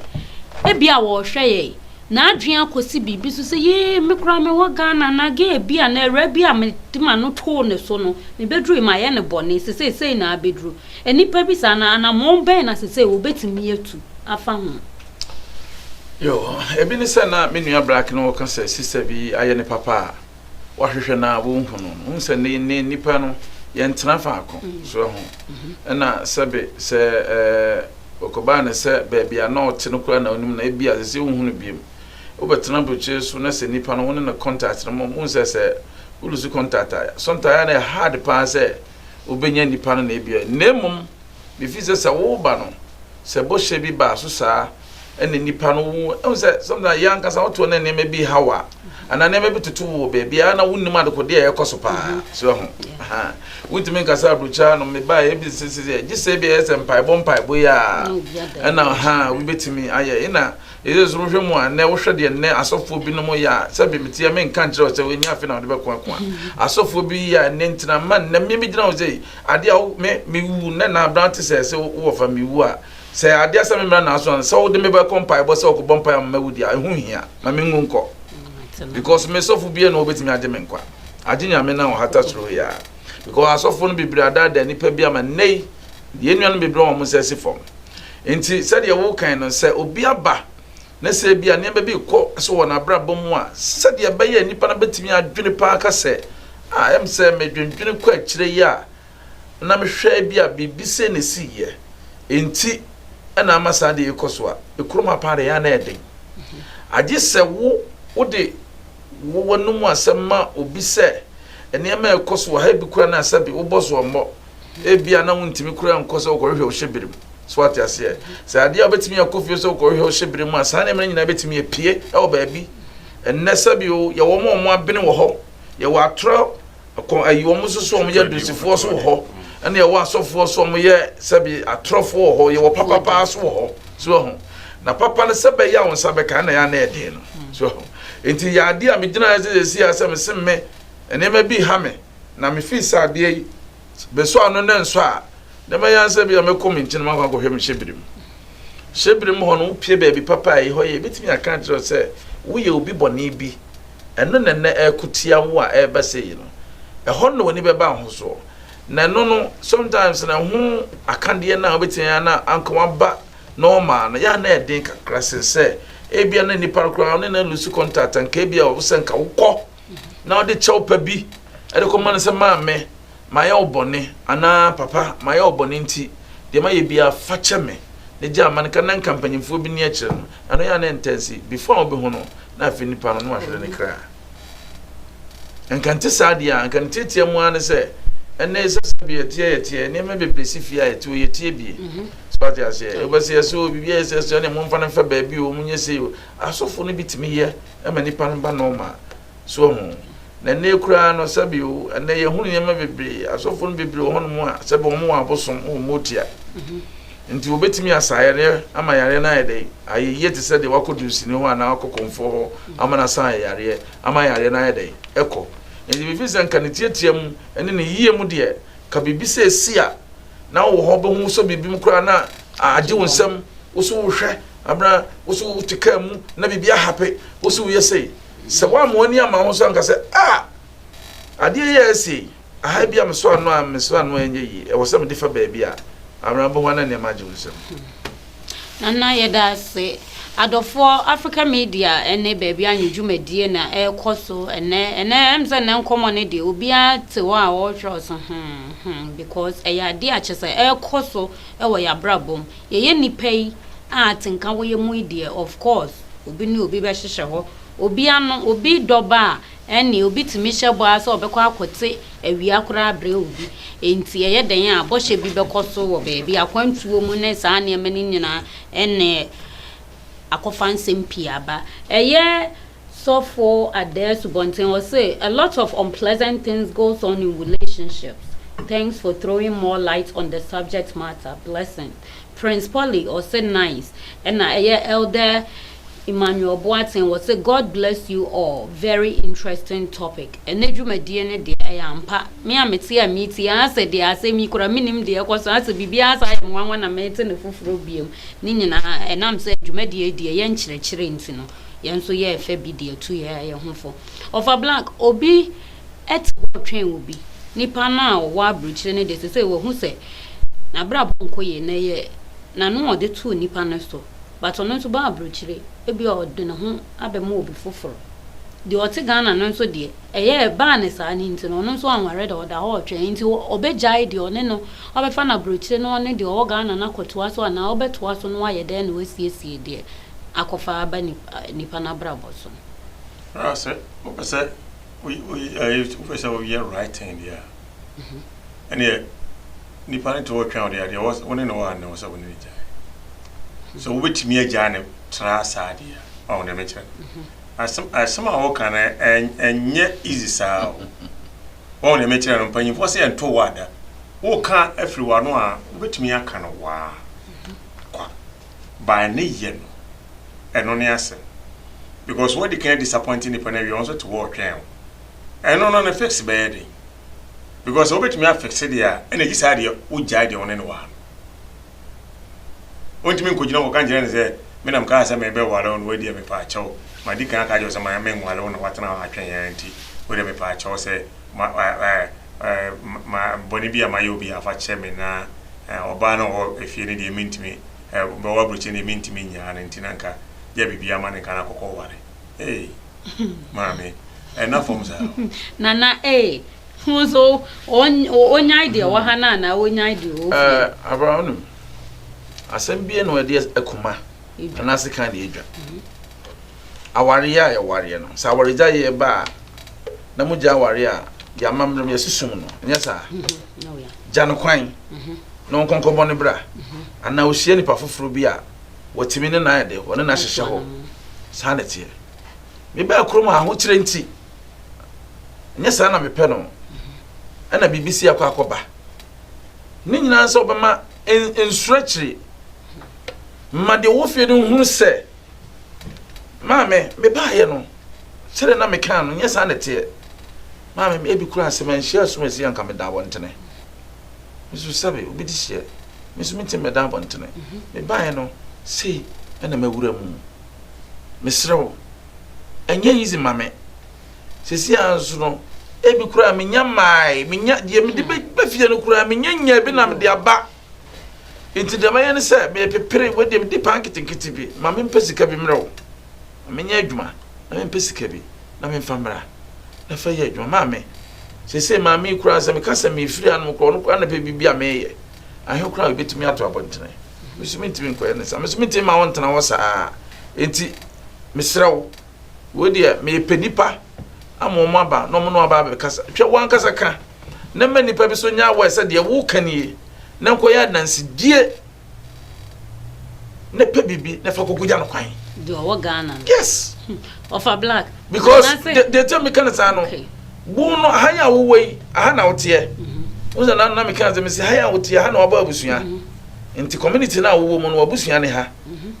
Ebi a wɔhwɛ yɛ n'adwene akɔsi biribi so sɛ yee me koraa mewɔ Ghana na gɛɛ bi a na awura bi a mede ma no too ne so no mebɛduru yi mayɛ no bɔne sɛ seisei na abɛduru. Nnipa bi saa no, anammɔn bɛn na ɛsɛ sɛ wobetumi atu afa ho? Yoo, ebi ne sɛ na me nua Black no ka sɛ sista bi ayɛ no papa a wahwehwɛ no a wonhu no. Wohu sɛ nnɛ nnɛ nnipa no yɛntena faako, so ahu? Ɛna sɛbe sɛ ɔkɔbaa no sɛ baabi a na ɔte no koraa na wonim no a, ebia ɛsɛ sɛ wonhu no bio. Wobɛtena aburokyire so na sɛ nnipa no wo ne no contact no mmom, wohu sɛ sɛ wo lose contact a, sometimes ɛyɛ a na ɛyɛ hard paa sɛ wobenya nnipa no na ebia na mmom mifii sɛ sɛ wo ba no sɛ bɔhyɛ bi baa so saa ɛna nnipa no wo ɛhu sɛ sometimes yɛ ankasa wotoɔ na nneɛma bi ha wa anaa nneɛma bi toto wo wɔ baabi a na wonnim adekode a ɛkɔ so paa mm-hmm. so ho wontumi nkasa aburokyaa no mebaa yɛ bi sesesɛ gye sɛ bi ɛyɛ sɛ mpaebɔ mpaebɔ yi a ɛna ha wobɛtumi ayɛ ɛna Ese so wohwɛ mu a nnɛ wohwɛ deɛ nnɛ asɔfoɔ binom yɛ a sɛbe meteɛ menka nkyerɛ wo sɛ ɛnyɛ afe na wode bɛko ako a asɔfoɔ bi yɛ a nnɛ ntina ma nnɛ mmea bi gyina wo sɛ adeɛ a me mewu nnɛ na aberante sɛ sɛ wowɔ fa mewu a sɛ adeɛ sɛ memmra naaso a sɛ wode mebɛkɔ mpaebɔ sɛ wokɔbɔ mpae ama mawu deɛ ɛho hia ma mengu nkɔ because me sɔfo bia na wɔbɛtumi agye me nkwa agye nyame na ɔhata soro yɛ a because asɔfoɔ no bebree adaadaa nnipa bi ama nnɛ yi deɛ nnuanom bebree wɔn sɛ si fam Enti sɛdeɛ wokan no, sɛ obi aba na sɛ ebia nneɛma bi rekɔ so wɔ n'abrabɔ mu a, sɛdeɛ ɛbɛyɛ a nnipa no bɛtumi adwene paa aka sɛ, Ah, ɛyɛ me sɛ medwendwene kɔ akyire yi a na mehwɛ ebia biribi sei na ɛsiiɛ, enti na ama saa adeɛ yi rekɔ so a, ɛkurom ha paa deɛ ɛyɛ a na ɛyɛ den. Agye sɛ wo wode w'anom asɛm ma obi sɛ, Nneɛma a ɛrekɔ so wɔ ha yi bi koraa na sɛbe wobɔ soɔ mmɔ. Ebia na wontumi koraa nkɔ sɛ wokɔhwehwɛ wo hyɛbere mu. So wate aseɛ? Sɛ adeɛ a wobɛtumi akɔ fie sɛ wokɔhwehwɛ wo hyɛbere mu a, saa nneɛma no nyinaa bɛtumi apue wɔ baabi. Ɛnnɛ sɛbio, yɛwɔ wɔn a wɔn abene wɔ hɔ, yɛwɔ atorɔ kɔ ayi wɔn nso so wɔn yɛ adusifoɔ so wɔ hɔ, ɛna yɛwɔ asɔfoɔ so wɔn yɛ sɛbi atorɔfoɔ wɔ hɔ, yɛwɔ papa paa so wɔ hɔ. So ɛho na papa no sɛ bɛyɛ a wɔn nsa bɛka ɛna yɛ anɛ ɛden no. So ɛho nti yɛ adeɛ a megyina sɛ sɛ si asɛm sɛ me nneɛma bi ha me. Na mifii sɛ adeɛ yi bɛsɔ ano na ɛnsɔ a, na ɛma yan sɛ bia mɛkɔ me nkyene makɔ akɔhwɛ me hyɛbere mu. Hyɛbere mu hɔ no, wopie baabi papa a ɛhɔ yɛ, ɛbɛtumi aka akyerɛ wo sɛ woyɛ obi bɔne bi. Ɛno na ɛnnɛ ɛreko tia wo a ɛreba sɛ yi no. Ɛhɔ no na w'ani bɛba ahosoɔ. Na ɛno no, sometimes na ɛho akadeɛ no a wobɛtumi ayɛ na anka waba normal no, yɛ a na ɛden kakra sen sɛ ebia na nipa no koraa wo ne no alusu contact anka ebia wo sɛ nka wokɔ. na ɔde kyɛw pa bi de kɔma no sɛ maame mayɛ wo bɔne anaa papa mayɛ wo bɔne nti deɛ mayɛ biara fa kyɛ me ne gye ama no ka na nka mpanyimfoɔ bi ni akyerɛ no ɛno yɛ a na ntansi before a wobɛhu no na afei nipa no na wahwere ne kra nka nte saa deɛ a nka ne tiatia mu ara ne sɛ ɛnɛ ɛsɛ sɛ bi yɛteɛ yɛteɛ nneɛma bebree si fie a yɛteɛ yɛteɛ bie mhm. so ate aseɛ wobɛsɛ yɛ sɛ biribi a yɛ sɛ sɛ ne momfa no mfa baabi o monyɛ sei o asɔfo no bi tumi yɛ ma nipa no ba normal so wahu na nnɛ koraa no sɛbi o ɛnɛ yɛhunu nneɛma bebree asɔfo no bebree wɔ hɔnom a sɛbi wɔn wɔ abosom wɔ motia mhm. nti wɔbɛtumi asa yareɛ ama yareɛ no ayɛ dɛ ayɛ yie te sɛ deɛ wakɔ dunsini hɔ anaa wakɔ kɔmfoɔ hɔ mhm. ama no asan ayɛ yareɛ ama yareɛ no ayɛ dɛ ɛkɔ nti biribi sɛ nka ne tiatia mu ɛne ne yie mu deɛ ka biribi sɛ ɛsi a na wɔ hɔ bɛhu sɛ biribi mu koraa na agye wo nsɛm wo so wohwɛ Abena, wo so wote kaa mu na biribi ahape wo so woyɛ sei. Sɛ woammoa ani ama ho so anka sɛ a ah, adeɛ yɛ asi aha bi a meso ano a meso ano ɛnyɛ yie ɛwɔ sɛ mede fa baabi a Abena bɛhu ana nneɛma agye wo nsam. Nana yɛda ase. Adɔfoɔ Africa Media ne baabi anwɔ dwumadie na ɛrekɔ so ɛnɛ ɛnɛ ɛm sɛ nnɛ nkɔmmɔ no deɛ obiara te hɔ a ɔrehwɛ ɔso hmm hmm because ɛyɛ adeɛ a kyɛ sɛ ɛrekɔ so ɛwɔ yɛabrabɔ mu. Yɛyɛ nnipa yi a atenka wɔ yɛn mu yi deɛ, of course, obi ne obi bɛhyehyɛ hɔ. Obi ano, obi dɔ ba a, ɛnneɛ obi tumi hyɛ bɔ ara sɛ ɔbɛkɔ akɔte awia koraa abrɛ obi. Enti ɛyɛ dɛn a, bɔhyɛ bi bɛkɔ so wɔ baabi, akwantuo mu ne saa nneɛma no nyinaa, ɛnneɛ akɔfa nsɛm pii aba. Ɛyɛ. Sɔfo Adair Asubɔnten ɔse a lot of unpleasant things goes on in relationships, thanks for throwing more light on the subject matter, blessings. Prince Poly ɔse nice, ɛna ɛyɛ Elder Emmanuel Boateng ɔse God bless you all, very interesting topic. Ɛnɛ dwumadie no deɛ ɛyɛ ampa, me a mete a meretie a asɛ deɛ asɛm yi koraa mennim deɛ ɛkɔ so, asɛ biribiara asan ayɛ me nwanwa na merete no foforɔ biom. Ne nyinaa ɛnam sɛ dwumadie yi deɛ ɛyɛ nkyerɛkyerɛ nti no. yɛn nso yɛɛ fɛ bi de atu yɛn yɛn ho fo. Ɔfa blank, obi te hɔ retwɛn obi. Nipa no a ɔwɔ aburokyire no deɛ sese wahu sɛ n'abrabɔ nkɔ yie na yɛ n'ano ɔde too nipa no so. But ɔno nso baa aburokyire, ebi a ɔde ne ho abɛma obi foforɔ. Deɛ ɔte Ghana no nso deɛ, ɛyɛ ɛbaa ne saa no nti no, ɔno nso anware da ɔda hɔ retwɛn. Nti ɔbɛgyae deɛ ɔne no, ɔbɛfa n'aburokyire no ɔne deɛ ɔwɔ Ghana no akɔtoa so anaa ɔbɛtoa so na wayɛ dɛn na wasiesie deɛ akɔfa aba nnipa no abrabɔ so. Ara sɛ wopɛ sɛ wopɛ sɛ woyɛ right thing deɛ a, ɛneɛ nipa no te hɔ twɛn wo deɛ adeɛ wo ne no wɔ anɛ wɔ sɛ wo ne no gyae. So wobɛtumi agyae no tra saa deɛ a, ɔho deɛ mekyerɛ no. Asɛm a woka no ɛnyɛ easy saa o. Wɔn deɛ mekyerɛ no mpanyinfoɔ sɛ yɛnto wɔ ada. Woka afiri w'ano a, wobɛtumi aka no waa kwa. by ne yɛ no ɛno ne asɛm because wadi kan disappoint nipa no awie ɔno nso te hɔ ɔtwɛn wo ɛno no ne fix bɛyɛ den because sɛ wobɛtumi afixe deɛ a ɛna gye saa deɛ wogyae deɛ wo ne ne wɔ ha no ɔntumi nkɔgyina kɔka nkyerɛ no sɛ menam kaa sɛ mebɛware wo no wadi a mepɛ akyɛw madi kan aka kyɛw sɛ ma menware wo na watena hɔ atwɛn yɛn nti wode mepɛ akyɛw sɛ ma ma bɔne bi a mayɛ obi a fakyɛ me na ɔbaa no wɔ hɔ fie no deɛ mentumi bɛwɔ aburokyire deɛ mentumi nyaa no nti na nka gya bibia ma no nka no akɔkɔ ware ee maame ɛna fam saa nana ee ho so ɔnyae deɛ wɔ ha no anaa ɔnyae deɛ wɔ fie abraham no asɛm bie na ɔde akuma anaase kan deɛ adwa awareɛ a yɛwareɛ no, sɛ awaregyaeɛ ba a, na mogya awareɛ a yɛn amammerɛ mu yɛsi sum no, ɛnyɛ saa? Mhm. Oh, Gya no kwan mhm. na ɔnkɔnkɔbɔ no bra, mhm. anaa ɔhyia nipa foforɔ bi a wɔtumi ne no ayɛ dɛ, wɔne no ahyehyɛ hɔ. Saa na ɛteɛ. Mebaa kurom a ahokyerɛ nti, ɛnyɛ saa na mepɛ no, ɛna biribi si akɔ akɔba. Ne nyinaa sɛ wɔbɛma nsuro akyiri, ma deɛ ɔwɔ fie no nhunu sɛ Maame, mebaeɛ no, sɛdeɛ na mekaa no, nyɛ saa na ɛteɛ. Maame, ebi koraa sɛ manhyia asomasi a anka meda abɔntene. Me nso sɛbe obi de hyeɛ, me nso mentumi mmɛda abɔntene. Mhm. Mebaeɛ no, sei na mawura mu. Mesrɛ wo, ɛnyɛ yizi ma me. Sɛsi a nso no, ebi koraa menya mmae, menya deɛ mede mhm. bɛfie no koraa menya nya bi na mede aba. Enti deɛ mɛyɛ ne sɛ mepepere wei deɛ mede paa nketenkete bi ma mempɛ sika bi mmerɛ wo ma menyɛ adwuma na mempɛ sika bi na memfa mmra na fa yɛ adwuma maame sɛsɛ maame yi koraa sɛ meka sɛ mefiri anom koraa ɔno koraa na pɛ biribi a meyɛ ahe koraa a ɛbɛtumi ato abɔntene meso mentumi nkɔyɛ ne saa meso mentumi ma wo ntena hɔ saa enti mesrɛ wo Wei deɛ mepɛ nnipa ama wɔn aba na wɔn na wɔaba abɛkasa. Hwɛ wankasa ka na mma nnipa bi so nyɛ aware sɛ deɛ woka nie na nkɔyɛ adansedie na pɛ biribi na fa kɔkɔgya no kwan. Deɛ ɔwɔ Ghana no. Yes. Ɔfa black. Because deɛ nti a meka no saa no wo no aha yɛ a wowɔ yi aha na woteɛ. Mhm. Wo sɛ na meka sɛ mesi ha yɛ a woteɛ ha na wabɔ abusua. Mhm. Nti community no a wowɔ mu no wabusua ne ha.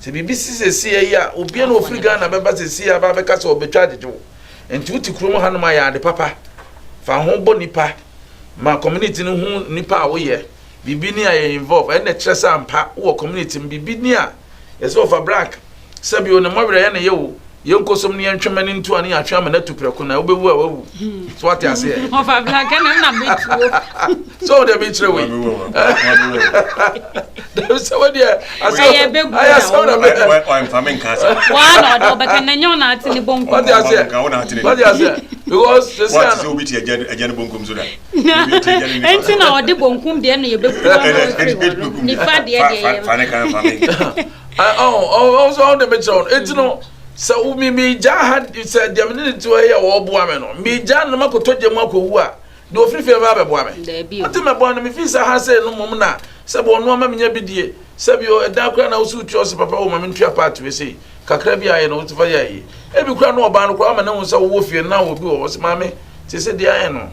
Sɛ biribi si seesei yi a, obi na ofiri Ghana bɛba seesei aba abɛka sɛ ɔbɛtwa agyegye wo. Nti wote kurom hanom a, yɛ ade papa. Fa ho bɔ nipa. Ma community no hu nipa a woyɛ. Biribi ni a yɛ involve. Ɛnna ɛkyerɛ sɛ ampa wowɔ community mu. Biribi ni a, yɛ sɛ ɔfa brak. Sɛbi o, ne mmɔwerɛyɛ na ɛyɛ o. yɛn nkɔsɔm ne yɛn twɛmɛ ne ntua ne yɛatwe ama no atu prɛko na wobɛwu a wawu so wate aseɛ sɛ wode mekyerɛ wei sɛ wodeɛ ayɛ sɛ wode aseɛ because sɛsɛ ɛnti na ɔde bonkum deɛ no yɛbɛkua nifa deɛ deɛ ɔwɔ de mekyerɛ wɔn eti no sɛ mi mi gya ha sɛ deɛ mi ne ne ti hɔ yɛ ɔboa mi no mi gya no ma kɔtɔ gya mu akɔwu a deɛ ofiri fie ba abɛboa mi ɔte mɛ bɔ no mi fi sɛ ha sɛ no mom na sɛ bɔ ɔno ama mi nya bi die sɛ bi ɛdan kura na wosi otua ɔsi papa wɔ ma mi ntua paati bi sei kakra bi ayɛ na wosi fa yɛ ayɛ ebi kura no ɔbaa no kura ama ne ho sɛ wowɔ fie na obi wɔ ɔsi maame te sɛ deɛ ayɛ no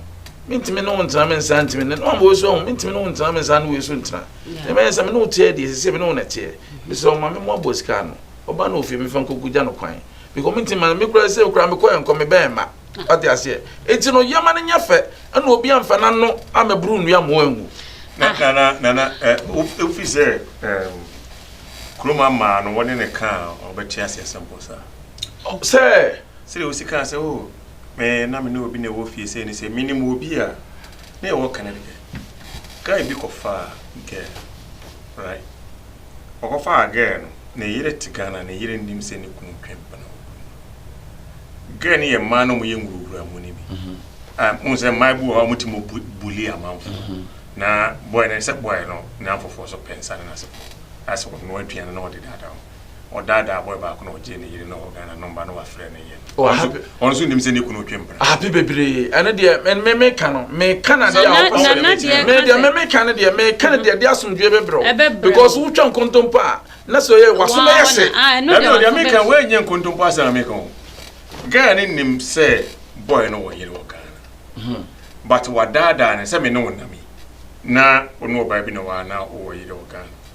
mi ntumi ne wo ntena mi nsa ntumi ne no ama wɔn so ho mi ntumi ne wo ntena mi nsa ne wɔn so ntena. Ɛbɛyɛ sɛ me ne wo teɛ deɛ, seesei me ne wo na ɛteɛ. Mesrɛ wo ma me mmoa boa sika ano. Ɔbaa no wɔ fie, mefa nkogu gya no kwan. Because mentumi ma no, me koraa seesei koraa mekɔ ɛnkɔ, me bɛn mma. Wate aseɛ? Enti no yɛma no nyɛ fɛ, ɛna obi amfa n'ano ammɛboro nnua mmoa angu. Na, na, na, na, na eh, wofi sɛ eh, kurom amaa no, wɔne ne ka a, ɔbɛte ase asɛm pɔ saa. Sɛ. Sɛdeɛ wosi kaa sɛ, oh, me, na me ne obi na ɛwɔ fie sɛ ne sɛ, menim obi a, na ɛwɔ Connecticut. Guy bi kɔfaa girl right ɔkɔfaa girl no ne yere te Ghana ne yere nnim sɛ ne kunu twe mpena wɔ kunu no girl no yɛ mmaa na wɔyɛ nwurawura mu no bi ah mo sɛ mmaa bi wɔ hɔ a wɔte mo bully amanfo na boy no sɛ boy no na afoforɔ so pɛ nsa no na sɛ asɛ ɔno aduane na ɔde daadaa ho ɔdaadaa abɔe baako na ɔgyee ne yere ne ɔwɔ Ghana no mma na wafrɛ ne yere. Oh, ɔno nso ɔno nso nim sɛ ne kunu twe mpena. Ahapi bebree ɛno deɛ me me me ka no me ka na deɛ a ɔkɔ sɛ me deɛ me me ka no deɛ me ka no deɛ deɛ asomdwe bɛbrɛ because wotwa nkontompo a na sɛ ɔyɛ waso bɛyɛ se. Ɛno ah, deɛ me ka wɔn nyɛ nkontompo asɛm na me ka o. Ghana ne nim sɛ boy no wɔ yere wɔ Ghana hmm. but wadaadaa ne sɛ me ne wɔn nam yi na ɔno ɔbaa bi na wɔn ana ɔwɔ yere wɔ Ghana.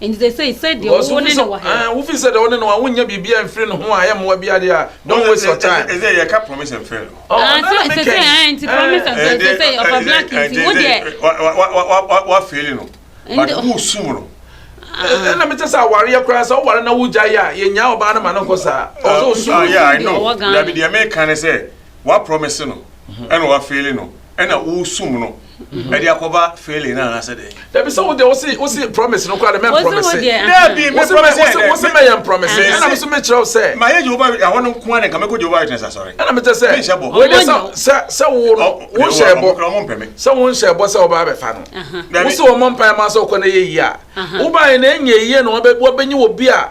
Enti seesei, sɛdeɛ Because wo ne no wɔ ha yi. Wo feel sɛ deɛ wo ne no wɔ ha wonyɛ biribiara mfiri ne ho a ɛyɛ mmoa biara deɛ a, don't waste your time. Ɛsɛ sɛ yɛka promise and fail. Ah, seesei, ah, nti promise and fail, seesei, ɔfa black nti, wo deɛ. Wa fail no, but wo sum no. Ɛna mekyɛ sɛ awareɛ koraa sɛ woware na wogyae a, yɛnyaa ɔbaa no ma no nkɔ saa. Ɔwɔ sɛ ɔsum no. Yeah, I know. Dabi deɛ meka ne sɛ, wa promise no, ɛna wa fail no, ɛna wo sum no. ɛde akɔba failing na anasɛ dɛ. dabi sɛ wode wose wose promise no koraa de mɛ promise dabi mɛ promise dɛ wose mɛ yɛn promise ɛna mi so mi kyerɛw sɛ. ma yɛ jehova ɛhɔ no nko ara nka mɛ ko jehova witness asɔre. ɛna mi kyɛ sɛ mi nhyɛ bɔ. wei de sɛ sɛ sɛ wo no wo nhyɛ bɔ sɛ wo nhyɛ bɔ sɛ ɔba abɛfa no wose wɔn mpa ɛma sɛ ɔkɔ na yɛ yie a woba yɛ na ɛnyɛ yie na wɔbɛnyi wɔ bi a.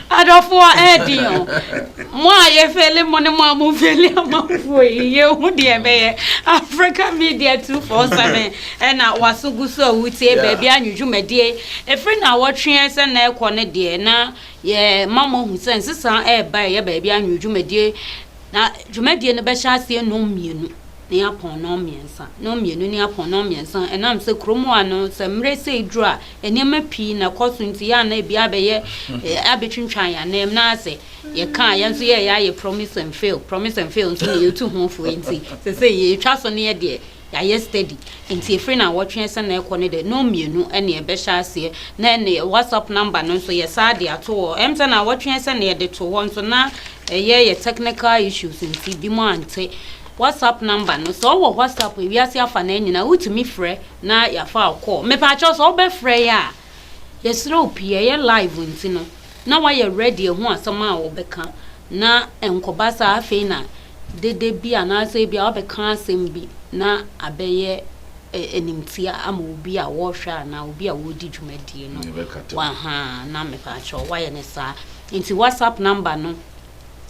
Adɔfoɔ ɛɛden o. Mo a yɛ fɛli mo ne mo a mo fɛli amanfoɔ yi yɛ hu deɛ ɛbɛyɛ. Africa Media 247 ɛna waso gu so a wo tie baabi anwo dwumadie. Ɛfiri nawɔtweɛ sɛ na ɛkɔ no deɛ na yɛ ma mo ahu sɛ nsesa ɛɛba ɛyɛ baabi anwo dwumadie. Na dwumadie no bɛhyɛ aseɛ nnɔn mmienu ne yɛ apɔn nnɔn mmiɛnsa. Nnɔn mmienu ne yɛ apɔn nnɔn mmiɛnsa ɛnam sɛ kurom hɔ a no sɛ mmerɛ sei duru a Nneɛma pii na ɛkɔ so nti, yɛ a na ebi abɛyɛ, abɛtwintwan yɛn ananmu. Na sɛ yɛka a, yɛn nso yɛyɛ ayɛ promise and fail. Promise and fail nso na yɛtu ho fo nti, sese yɛtwa so no yɛ deɛ yɛayɛ steady. Nti ɛfiri na wɔtwe sɛ na ɛkɔ no deɛ, no mmienu ɛne ɛbɛhyɛ aseɛ. Na ɛne WhatsApp number no nso yɛsaa de ato hɔ. Ɛm sɛ na wɔtwe sɛ na yɛde to hɔ nso na ɛyɛ yɛ technical issues nti, binom ante. WhatsApp number no, sɛ ɔwɔ WhatsApp, ewiase afa no nyinaa, wotumi frɛ. na yɛafa wo kɔɔ. Mepakyɛw sɛ wobɛfrɛ yɛn a, yɛsrɛ wo pii, ɛyɛ live nti no, na woayɛ ready ahu asɛm a wobɛka, na ɛnkɔba saa afei na dede bi anaasɛ ebia wabɛka asɛm bi na abɛyɛ animtia ama obi a wɔrehwɛ anaa obi a wɔredi dwumadie no. Wahaa, na mepakyɛw woayɛ no saa. Nti WhatsApp number no.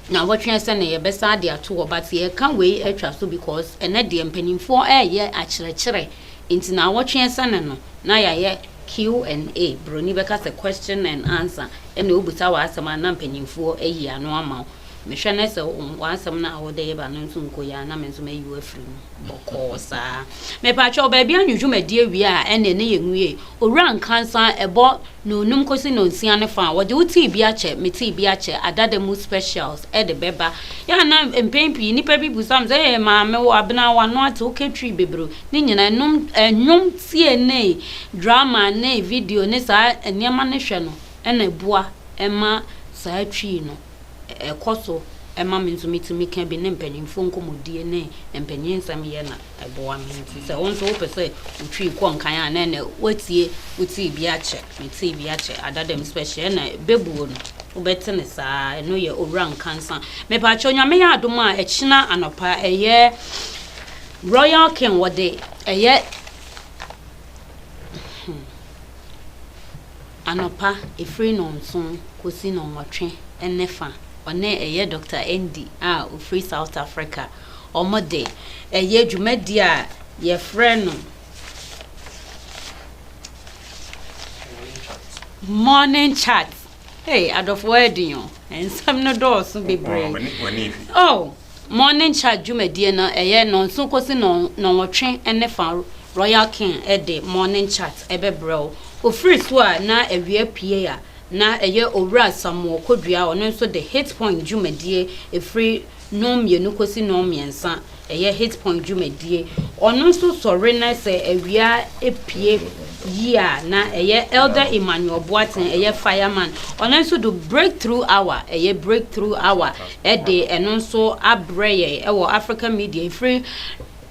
na wɔtweɛn sɛ na yɛbɛsan de ato hɔ but yɛreka wei atwa so because ɛnɛ deɛ mpaninfoɔ reyɛ akyerɛkyerɛ nti na wɔtweɛn sɛ ne no na yɛayɛ Q and A, broni bɛka sɛ question and answer, ɛna ɔbusa w'asɛm a na mpaninfoɔ ayi ano ama wo. Mehwɛ ne sɛ w'asɛm no a wodeba no nso nkɔ yie a na me nso mɛyi wo afiri mu bɔkɔɔ saa. Mepatwɛ wo baabi anwodwo madi awie a ɛne ne yɛnwie Owura Nkansah a ɛbɔ Nonum kɔsi Nonsia no fa a, wɔde Wo Tii Bi Akyɛ, Me Tii Bi Akyɛ adada mu specials de bɛba. Yɛ a na mpɛn pii nnipa bi bisa me sɛ, Ee, Maame, wo abena, w'ano ate, woka Twi bebree. Ne nyinaa, ɛnom, ɛɛ, nnwom tie ne drama ne video ne saa nneɛma no hwɛ no na ɛboa ma saa Twi no. Ɛkɔ so ma me nso metumi ka bi ne mpanyimfoɔ nkɔmmɔdie ne mpanyin nsɛm yɛ na ɛboa me. Nti sɛ wo nso wopɛ sɛ wotwi kɔ nkan a na ɛnɛ woatie wotee bi akyɛ metee bi akyɛ ada dɛm special ɛna bɛbuo no wobɛte ne saa ɛno yɛ owura nkansa mepaakyɛ onyame yɛ adom a ɛkyena anɔpa ɛyɛ royal king wɔde ɛyɛ hmm. Anɔpa, ɛfiri nnɔnson kɔsi nnɔnwɔtwe ne fa, ɔne ɛyɛ Doctor Andy a ɔfiri South Africa, wɔde ɛyɛ dwumadie a yɛfrɛ no Morning Chat. Hey, adɔfoɔ ɛyɛ den o, nsɛm no dɔɔso bebree. Oh. Morning Charge dwumadie no ɛyɛ nnɔnson kɔsi nnɔnwɔtwe ne fa Royal King de Morning Chat bɛbrɛ wo. Ɔfiri so a na awia pue a, na ɛyɛ Owura Samuel Kodua a ɔno nso de Hit Point dwumadie ɛfiri nnɔn mmienu kɔsi nnɔn mmiɛnsa ɛyɛ Hit Point dwumadie. Ɔno nso sɔre na sɛ awia pue yie a, na ɛyɛ Elder Emmanuel Boateng ɛyɛ Fireman. Ɔno nso do Breakthrough Hour ɛyɛ Breakthrough Hour. de ɛno nso abrɛ yɛn wɔ Africa Media ɛfiri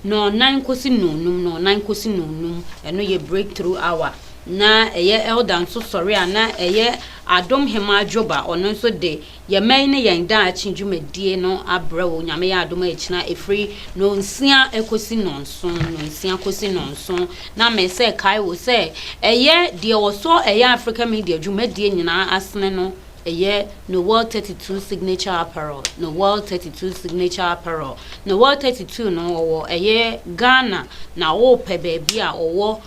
nnɔnnan kɔsi nnɔnnum, nnɔnnan kɔsi nnɔnnum, ɛno yɛ breakthrough hour. Na ɛyɛ elder nso sɔre a na ɛyɛ adom hema adwoba, ɔno nso de yɛn mɛyi ne yɛn daakye dwumadie no abrɛ wo nyame yɛ adom akyina ɛfiri nnɔnsia kɔsi nnɔnson, nnɔnsia kɔsi nnɔnson. Na me sɛ kae wo sɛ ɛyɛ deɛ wɔsɔ ɛyɛ Africa Media dwumadie nyinaa asene no Ɛyɛ Noel thirty two signature apparel Noel thirty two signature apparel Noel thirty two no ɔwɔ ɛyɛ Ghana na wopɛ baabi a ɔwɔ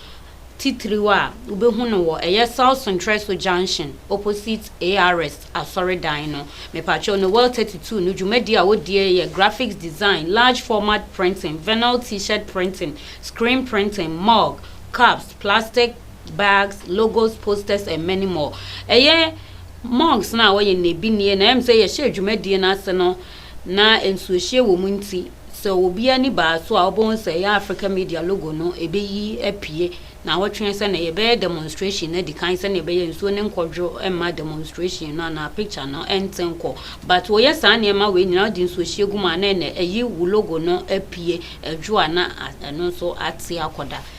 titiriw a wobɛhu no wɔ ɛyɛ South Sontreso junction opposite ARS asɔredan no mepakyɛw Noel thirty two no dwumadi a wodie yɛ graphics design large format printing vinyl t-shirt printing screen printing mug cups plastic bags, logos, posters and many more. Ɛyɛ monks no a wɔyɛ nnɛbinie na ɛm sɛ yɛhyɛ dwumadie no ase no na nsuohyie wɔ mu nti sɛ obi ani baa so a ɔbɛhu sɛ ɛyɛ Africa Media logo no ɛbɛyi apue na awɔtwe sɛ na yɛbɛyɛ demonstration no adi kan sɛdeɛ ɛbɛyɛ nsuo no nkɔdwo mma demonstration no anaa picture no ɛnte nkɔ but wɔyɛ saa nneɛma wei nyinaa wode nsuohyie gu mu a na ɛnɛ ɛyi wo logo no apue adwo a na ɛno nso ate akɔda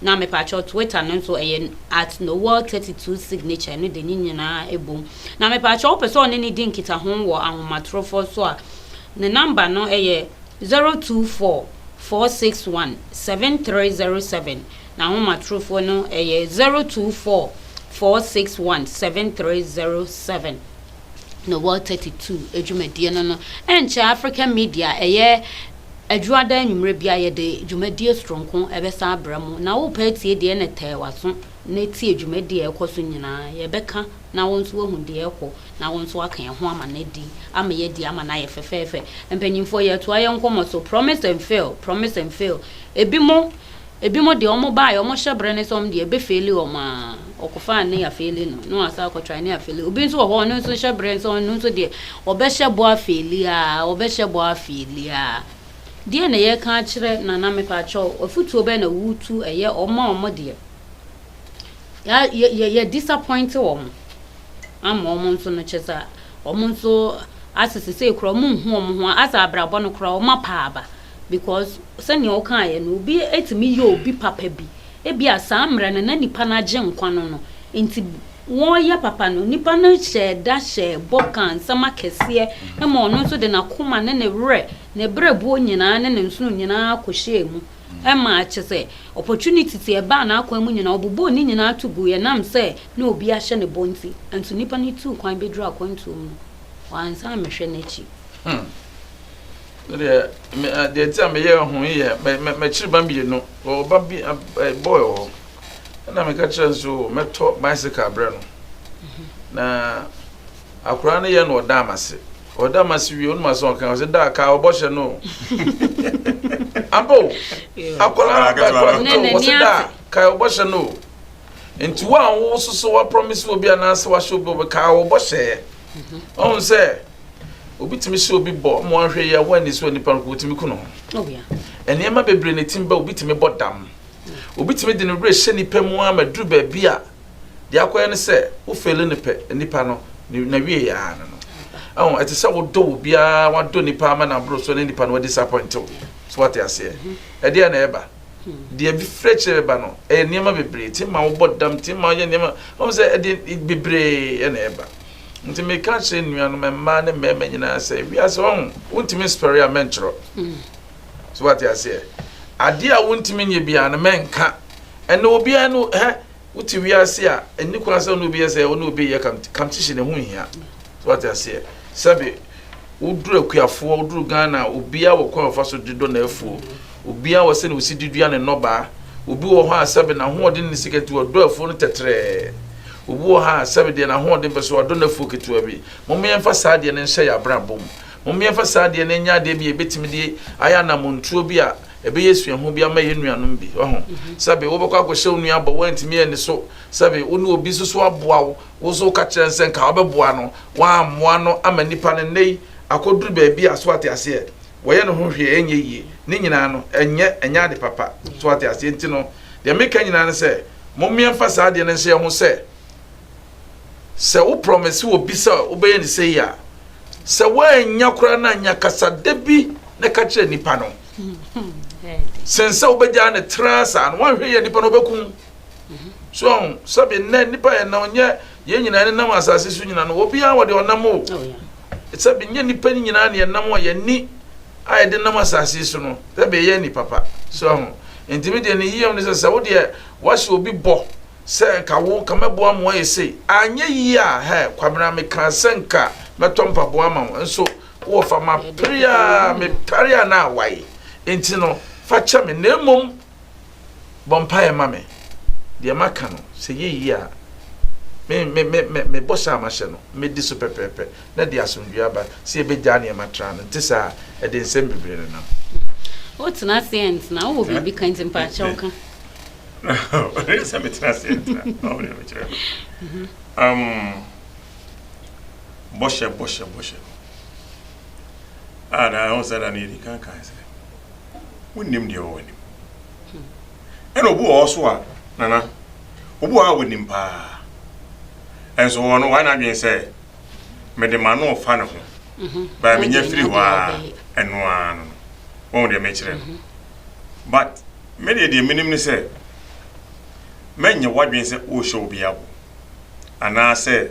Na mepakyɛw twitter no nso ɛyɛ at noel thirty two signature no de ne nyinaa ɛbom na mepakyɛw wopɛ sɛ ɔne ne di nkitaho wɔ ahomatorofɔ so a ne number no ɛyɛ zero two four four six one seven three zero seven n'ahomatorofɔ no ɛyɛ zero two four four six one seven three zero seven. no World Thirty Two dwumadie no no nkyɛ African Media ɛyɛ adwuada anwummerɛ bi a yɛde dwumadie soronko ɛbɛsan abrɛ mo na wopɛ atie deɛ na tɛɛ w'aso na tie dwumadie a ɛkɔ so nyinaa yɛbɛka na wo nso wahu deɛ ɛkɔ na wo nso aka ɛho ama no adi ama yɛadi ama no ayɛ fɛfɛɛfɛ mpanyinfoɔ yɛtoa yɛn nkɔmmɔ so promise and fail promise and fail ebi mo Ebinom deɛ wɔn baeɛ wɔn hyɛ berɛ ne sɛ wɔn deɛ ɛbɛ faili wɔn aa wɔkɔ faa ne ya faili no na wɔn asan akɔ try ne ya faili obi nso wɔ hɔ ɔno nso hyɛ berɛ nso ɔno nso deɛ ɔbɛ hyɛ bɔ a faili aa ɔbɛ hyɛ bɔ a faili aa deɛ na yɛ ka akyerɛ nana me pa kyɛw afutuo bɛ na wutu ɛyɛ wɔn a wɔn deɛ ya yɛ yɛ yɛ disappoint wɔn ama wɔn nso no kyɛ sɛ wɔn nso asese sɛ ekura wɔn nhu wɔn ho asɛ abrabɔ no kura wɔn apaaba. because sɛnea wokaeɛ no, obi tumi yɛ obi papa bi, ebia saa mmerɛ no na nipa no agye nkwa no no nti wɔreyɛ papa no, nipa no hyɛɛ da hyɛɛ bɔ kaa nsɛm akɛseɛ ma ɔno nso de n'akoma ne ne werɛ, ne berɛbuo nyinaa ne ne nsono nyinaa kɔhyɛɛ mu ma kyɛ sɛ opportunity te ɛbaa n'akwan mu nyinaa ɔbobɔɔ ne nyinaa to guiɛ nam sɛ na obi ahyɛ ne bɔ nti. Nso nipa no tuu kwan bɛduru akwantuom no, wansan ammɛhwɛ n'akyi. Hmm. No deɛ me eh, deɛ ti a meyɛ ho yɛ mɛkyiri ba mmienu wɔ ba bi boy wɔ hɔ ɛna meka kyerɛ nso mɛtɔ bicycle abrɛ no na akwaraa no yɛ no ɔda amase ɔda amase wie onum asɛn ɔka ɔsɛ da ka ɔbɔhyɛ no abo akwaraa akwaraa no ɔsɛ da ka ɔbɔhyɛ no nti wo a wo soso wa promise obi anaasɛ wahyɛ obi ɔbɛka ɔbɔhyɛ ɔhun sɛ. Obi tumi sɛ obi bɔ mo ahwɛ yi a wɔnni so nipa no wɔtumi ku ne ho. Oh, Nneɛma bebree na ɛtim ba obi tumi bɔ dam. Obi tumi de ne werɛ hyɛ nipa mu a ma duru baabi a deɛ akɔyɛ no sɛ wofeele ne pɛ nipa no na wie yɛ ano no. Ɛho ɛte sɛ wodɔ wo biara wadɔ nipa ama na aboro so ne nipa no wadisappoint wo. So wate aseɛ. Mhm. Ɛdeɛ na ɛba. Hmm. Deɛ bi frɛ kyerɛ ba no ɛyɛ nneɛma bebree ti ma wobɔ dam ti ma yɛ nneɛma. Wɔn sɛ ɛde bebree na ɛba. Nti meka kyerɛ nnuanom mmaa ne mmarima nyinaa sɛ wiase wɔn wontumi nsɔre a mɛntwerɛ so wate aseɛ adeɛ a wontumi nyɛ biara no mɛnka ɛnna obiara no hɛ wote wiase a ɛni kwan sɛ ɔne obi yɛ sɛ ɔne obi yɛ competition ɛho nhia so wate aseɛ sɛbe woduru akuafoɔ woduru Ghana obiara wɔ kwan ɔfa so de dɔ na afuo Obiara wɔ sɛnea osi de dua ne nnɔbaa. Obi wɔ hɔ a sɛbe n'ahoɔden ne sika nti ɔdɔ afuo no tɛtrɛɛ. Obi wɔ hɔ a sɛbe deɛ n'ahoɔden pɛ so ɔdɔ n'afuo ketewa bi. Momma yɛmfa saa adeɛ no nhyɛ yɛn abrabɔ mu. Momma yɛmfa saa adeɛ no nyɛ adeɛ bi a yɛbɛtumi de ayɛ anammɔntuo bi a ɛbɛyɛ suahu bi ama yɛn nuanom bi. Wahu? Sɛbe wobɛkɔ akɔhyɛ wo nua bɔ, woantumi anni so. Sɛbe wo ne obi nso so aboa wo, wo nso woka kyerɛ no sɛ nka wobɛboa no, woammoa no ama nnipa no nnɛyi akɔduru baabi a, so ate aseɛ? wɔyɛ no ho hwee a ɛnyɛ yie. Ne nyinaa no, ɛnyɛ, ɛnyɛ ade papa. So wate aseɛ? Nti no, deɛ meka nyinaa ne sɛ, mommea mfa saa adeɛ no nhyɛ yɛn ho sɛ, sɛ wo prɔmese obi sɛ wobɛyɛ no sei a, sɛ woannya koraa no anya kasa da bi na ɛka kyerɛ nipa no. Sen sɛ wobɛgyaa no tra saa no, woanhwɛ yɛ nipa no ɔbɛkum. so ɔho sɛbi nnɛ nnipa yɛ nam nyɛ yɛn nyinaa ne nam asase so nyina no obiara wɔde ɔnam o oh, sɛbi nyɛ nnipa no nyinaa ne yɛnam a yɛni a yɛde nam asase so no sɛbi ɛyɛ ni papa so ɔho ntumi deɛ ne yiyam no sɛ sɛ wo deɛ wahyɛ obi bɔ sɛ nka wo nka mɛboa mmoa yɛ sei anyɛ yie a hɛ kwabena meka sɛ nka mɛtɔ mpaboa ma wo nso wɔ fa ma pere a mepare a na awae nti no fa kyɛ me na mmom Bɔ mpaeɛ ma me. Deɛ maka no, sɛ ɛyɛ yie a, me, me, me, me, me bɔhyɛ a mahyɛ no, mɛdi so pɛpɛɛpɛ, na ɛde asomdwoeɛ aba. Sɛ yɛbɛgyaa nneɛma traa no, ɛnte saa a, ɛde nsɛm bebree na ɛnam. Wotena ase ɛntena, wowɔ biribi ka nti mpa akyɛw ka. Ɛyɛ sɛ metena ase ɛntena, ɔmo deɛ mekyerɛ no. Mhm. Um, bɔhyɛ, bɔhyɛ, bɔhyɛ no. Ah, na ɛho sɛ da no yɛdi kankan sɛ. wonnim deɛ ɛwɔ w'anim. Ɛna obi wɔ hɔ so a, Nana, obi wɔ hɔ a wonim paa. Ɛnso wɔ no, wayɛ n'adwene sɛ, mede m'ano refa ne ho. Mhm. Baa menya firi hɔ a, ɛno ara no no. Wɔn deɛ mekyerɛ no. Mhm. But, me deɛ deɛ menim ne sɛ, mɛnyɛ w'adwene sɛ worehyɛ obi abo. Anaasɛ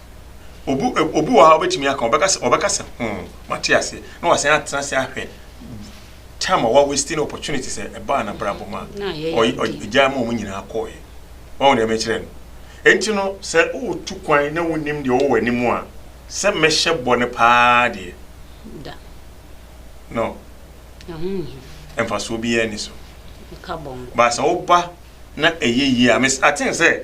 Obu ɛ obi wɔ hɔ a wobɛtumi aka, ɔbɛka sɛ ɔbɛka sɛ hoo, mate aseɛ, na wasan atena ase ahwɛ time a wawasti ne opportunity sɛ ɛbaa n'abrabɔ mu a, Na ayɛ ɔy- ɔy- yadeɛ. ɔgyaa ma wɔn nyinaa kɔɔeɛ. Wahu deɛ mekyerɛ no? Enti no, sɛ woretu kwan na wonim deɛ ɔwɔ w'anim a, sɛ mɛhyɛ bɔ no paa deɛ, Da. no, Ɛho nhia. mfasoɔ biara ni so. Ɛka bɔnkɔ. But sɛ woba na ɛyɛ yie a, mes- I think sɛ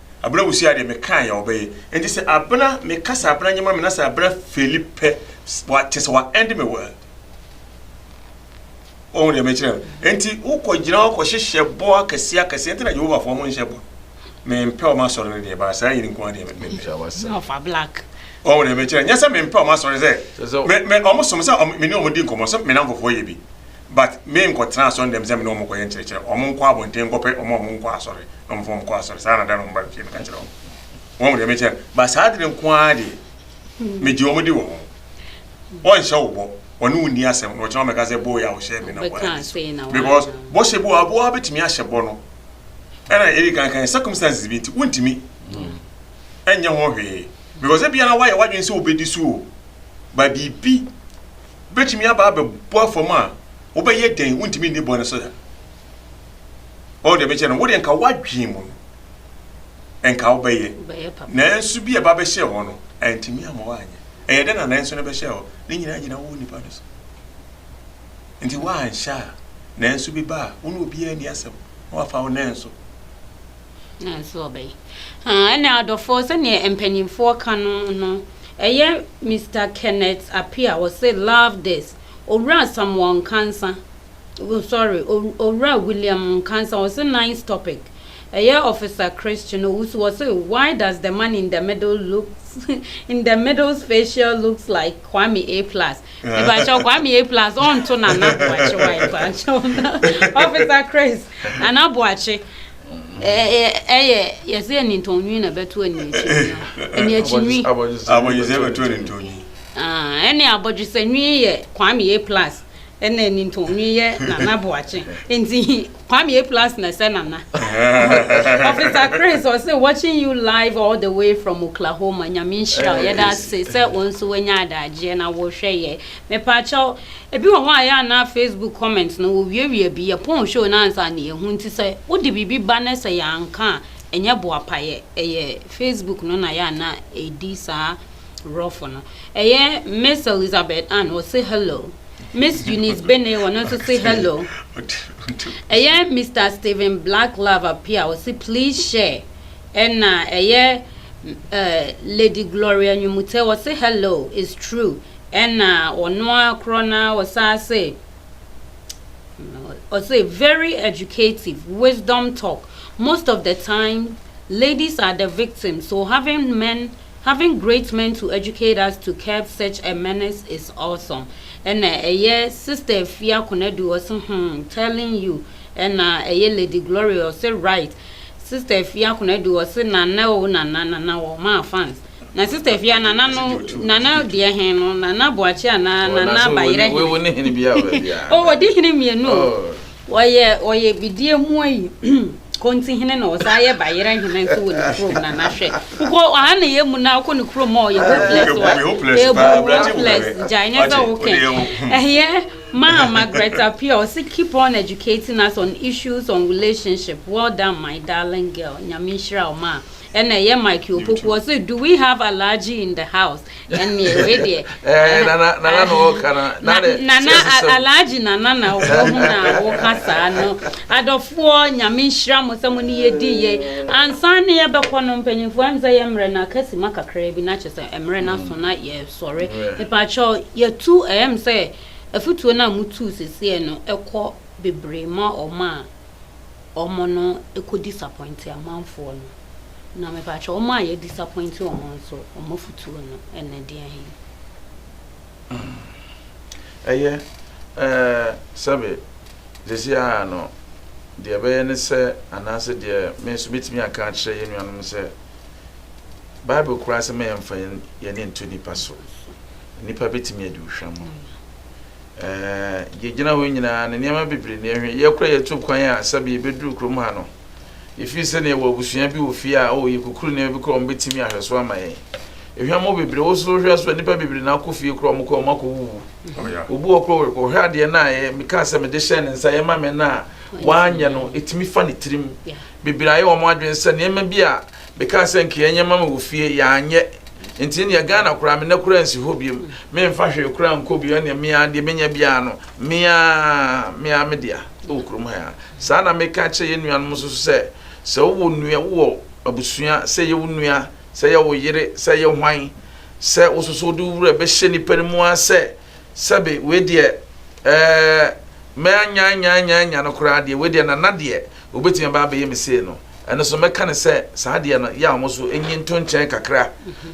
Abena wusi adeɛ mekae ya ɔbɛyɛ enti sɛ abena meka sɛ abena nyɛ ma me na sɛ abena feli pɛ wa kyɛ sɛ wa end me word wɔn deɛ mekyerɛ no enti wokɔ gyina hɔ kɔhyehyɛ bɔ akɛseɛ akɛseɛ nti na Jehovah foɔ mo nhyɛ bɔ mempɛ wɔn asɔre no deɛ baa saa yɛ ne nko adeɛ mempɛ wɔn deɛ mekyerɛ nyɛ sɛ mempɛ wɔn asɔre sɛ me wɔn som sɛ me ne wɔn di nkɔmmɔ sɛ me nanfofoɔ yɛ bi but me nkɔtena asɔre dɛm sɛ me ne wɔn kɔyɛ nkyerɛkyerɛ, wɔn nkɔ abɔnten nkɔpɛ wɔn a wɔn nkɔ asɔre na wɔn fa wɔn kɔ asɔre saa na da na wɔn ba fie meka kyerɛ wɔn wɔn deɛ mekyɛ ba saa adwene nko ara deɛ megye wɔn di wɔ ho wɔn nhyɛ wo bɔ wɔne wo ni asɛm na wɔkyerɛ wɔn mɛka sɛ bɔ yɛ a wɔhyɛ me na wɔn ani so because bɔhyɛ bi wɔ aboɔ abɛtumi ahyɛ bɔ no ɛna yɛde kankan circumstances bi nti wontumi ɛnyɛ ho hwee because ebi ara wayɛ wadwene sɛ wobɛdi so o ba biribi betumi aba abɛbɔ fam a, wobɛyɛ dɛn? Wuntumi nni bɔne so da. Wɔn deɛ bɛkyɛ no, wo deɛ nka wadwen mu no, nka wobɛyɛ. Nanso bi a ɛba bɛhyɛ hɔ no, antumi ama woanyɛ. Ɛyɛ dɛn na nanso no bɛhyɛ hɔ? Ne nyinaa gyina wo nipa no so. Nti woanhyɛ a, nanso bi ba a, wo ne obiara nni asɛm na wafa wo nanso. Ɛna adɔfoɔ sɛdeɛ mpaninfoɔ ka no no ɛyɛ Mister Kenneth Appiah ɔse love this Owura Samuel Nkansa sorry Owura William Nkansa ɔse nice topic ɛyɛ Officer Chris Chinowusu ɔse why does the man in the middle looks in the middle's facial looks like Kwame A plus mebakyɛw Kwame A plus ɔnto Nana Boakye wife ankyɛw Officer Chris Nana Boakye ɛyɛ yɛsɛ yɛ nintɔnwi na bɛto aniakyinwi aniakyinwi abɔdwesɛ bɛto anintɔnwi ɛne abɔdwesɛ nwi yɛ kwame a plus ɛna nintɔnwi yɛ nana boakye nti kwame a plus na ɛsɛ nana ɔfisa chris ɔsɛ watching you live all the way from oklahoma nyame nhyira yɛda ase sɛ wɔn nso wanya adagyeɛ na wɔhwɛ yɛ Mepaakyɛw, ebi wɔ hɔ a yɛ a na Facebook comments no wowiawia bi, yɛpɔn show no ansa na yɛahu, nti sɛ wode biribi ba na sɛ yɛanka a ɛnyɛ boapa yɛ, ɛyɛ Facebook no na yɛ a na ɛdi saa rɔfo no. Ɛyɛ Miss Elizabeth Ann, ɔse hello. Miss Eunice Beney, ɔno nso se hello. Ɛyɛ Mister Stephen Black Love Appear, ɔse please share. Ɛna ɛyɛ eh, Lady Gloria Nwumutse, ɔse hello, it's true, Ɛna ɔno ara korɔ no ara ɔsan se, ɔse very educative, wisdom talk, most of the time ladies are the victims so having men, having great men to educate us to curb such a menace is awesome. Ɛna ɛyɛ Sister Afia Konadu ɔse hmm telling you ɛna ɛyɛ Lady Gloria ɔse right Sister Afia Konadu ɔse Nana o Nana Nana wɔn maa fans. Na sister fia nana no nana deɛ hen no nana boakye anaa nana bayerɛ hen. Wo ne hene bi a ɔbɛ bia. Oh wɔde hene mmienu. Wɔyɛ wɔyɛ bidie mu ayi konti hene na ɔsan yɛ bayerɛ hene nso wɔ ne kurom nana hwɛ. Wokɔ aha na yɛ mu na wokɔ ne kurom a ɔyɛ hopeless wa. Ebu hopeless gyae ne sɛ wokɛ. Ɛyɛ maa Margaret Apia ɔsi keep on educating us on issues on relationship well done my darling girl nyame nhyira wo maa. ɛna ɛyɛ mike opoku ɔsɛ do we have allergy in the house ɛnneɛ wei deɛ eh, nana nana na ɔka na nana allergy nana na ɔwɔ ho na ɔka saa no adɔfoɔ nyame nhyira mo sɛ mo ne yɛ di yɛ ansa ne yɛ bɛkɔ no mpanyinfoɔ ɛm sɛ yɛ mmerɛ na kasi ma kakra bi na kyɛ sɛ mmerɛ na so na yɛ sɔre nipakyɛw yɛtu ɛm sɛ afutuo no a mo tu seseɛ no ɛkɔ bebree ma ɔmo a wɔn no kɔ disappoint amanfoɔ no, na mepakyɛw wɔn a yɛ disappoint wɔn no nso wɔn afutuo no ne deɛn he? Ɛyɛ, ɛɛ, sɛbe, seesei ara no, deɛ ɛbɛyɛ ne sɛ, anaasɛ deɛ me nso mɛtumi aka akyerɛ yɛn nuanom no sɛ, Bible koraa sɛ ma yɛmfa yɛn yɛn ani nto nnipa so. Nnipa bɛtumi adi wo hwam. Yɛgyina hɔ yi nyinaa no, nneɛma bebree na yɛhwɛ. Yɛn koraa yɛtu kwan a, sɛbe yɛbɛduru kurom ha no, yɛfiri sɛ na yɛwɔ abusua bi wɔ fie a, oh, yɛkukuru nneɛma bi koraa a wɔbɛtumi ahwɛ so ama yɛn. Ehwam hɔ bebree, wo so wohwɛ so a, nnipa bebree na akɔ fie koraa a wɔkɔ a wɔakɔwuwu. Obi wɔ hɔ koraa a, ɔhwɛ adeɛ no a mekaa sɛ mede hyɛɛ ne nsa, yɛma me no a, wanyɛ no, ɛtumi fa ne tirim. Bebree ayɛ wɔn adwene sɛ nneɛma bi a mekaa sɛ anka yɛnyɛ mma me wɔ fie, yɛanyɛ. Enti ɛnneɛ Ghana koraa, me nna koraa nsi hɔ biom. Memfa hwee koraa nkɔ bio, ɛnneɛ me ara, deɛ menya biara no, me ara, me ara me dea wɔ kurom ha yi ara. Saa na meka kyerɛ yɛn nuanom nso so sɛ, sɛ wowɔ nua, wowɔ abusua, sɛ ɛyɛ wo nua, sɛ ɛyɛ wo yere, sɛ ɛyɛ hwan, sɛ wo nso so wode wo werɛ bɛhyɛ nnipa no mu ara sɛ, Sɛbe, wei deɛ, ɛɛ, mɛanyanyanyanyan no koraa deɛ, wei deɛ, Nana deɛ, ɔbɛtumi aba abɛyɛ me sei no, ɛno nso mɛka no sɛ, saa deɛ no, yɛ a wɔn nso nyi nto nkyɛn kakra,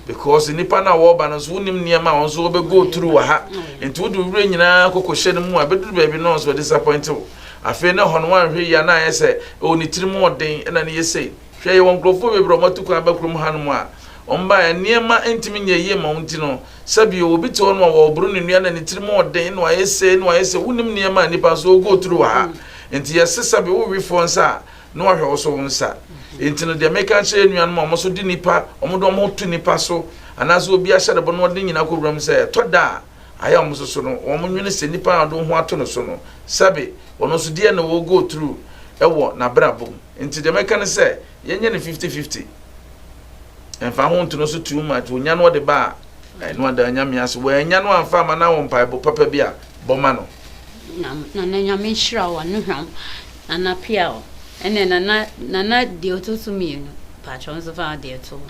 because nnipa no a wɔreba no nso, wonnim nneɛma a wɔn nso wɔbɛ go through wɔ ha, nti wode wo werɛ nyinaa kɔkɔhyɛ no mu a, ɛbɛduru baabi no, wɔn nso wɔadisappoint wo. Afei na ɛhɔ no, woanhwɛ yie a, na ayɛ sɛ, oh, ne tirim yɛ den, ɛna no yɛ sei. Hwɛ, yɛwɔ nkurɔfoɔ bebree a wɔatu kwan aba kurom hanom a wɔbaeɛ, nneɛma ntumi nyɛ yie mma wo nti no, sɛ bio, obi te hɔnom a wɔreboro ne nnua na ne tiri mu ɔden na wayɛ sei na wayɛ sei, wonim nneɛma a nnipa nso wɔgo through wɔ ha, nti yɛse sɛ bio wowe foɔ nsa a na wahwɛ wo so wo nsa. Nti no deɛ meka kyerɛ anuanom a wɔn nso de nnipa, wɔn de wɔn ho to nnipa so anaasɛ obi ahyɛdebɔ na wɔde ne nyinaa kɔ wuram sɛ, ɛtɔ da a, Ayɛ a wɔn nso so no, wɔn nwene sɛ nipa a ɔde wo ho ato no so no, sɛbe ɔno nso deɛ na ɔwɔ go through ɛwɔ n'abrabɔ mu. Nti deɛ mɛka ne sɛ, yɛnyɛ no fifty fifty. Ɛmfa ho nto no so too much, ɔnya no ɔde ba a, ɛno ada Nyame ase. Wannya no amfa amma no a, wɔ mpaebɔ papa bi a, bɔ ma no. Nam nana nyame nhyira wo anohwam nana pia wo ɛnɛ nana nana deɛ ɔtɔ so mmienu mpakyɛw nso fa adeɛ to hɔ.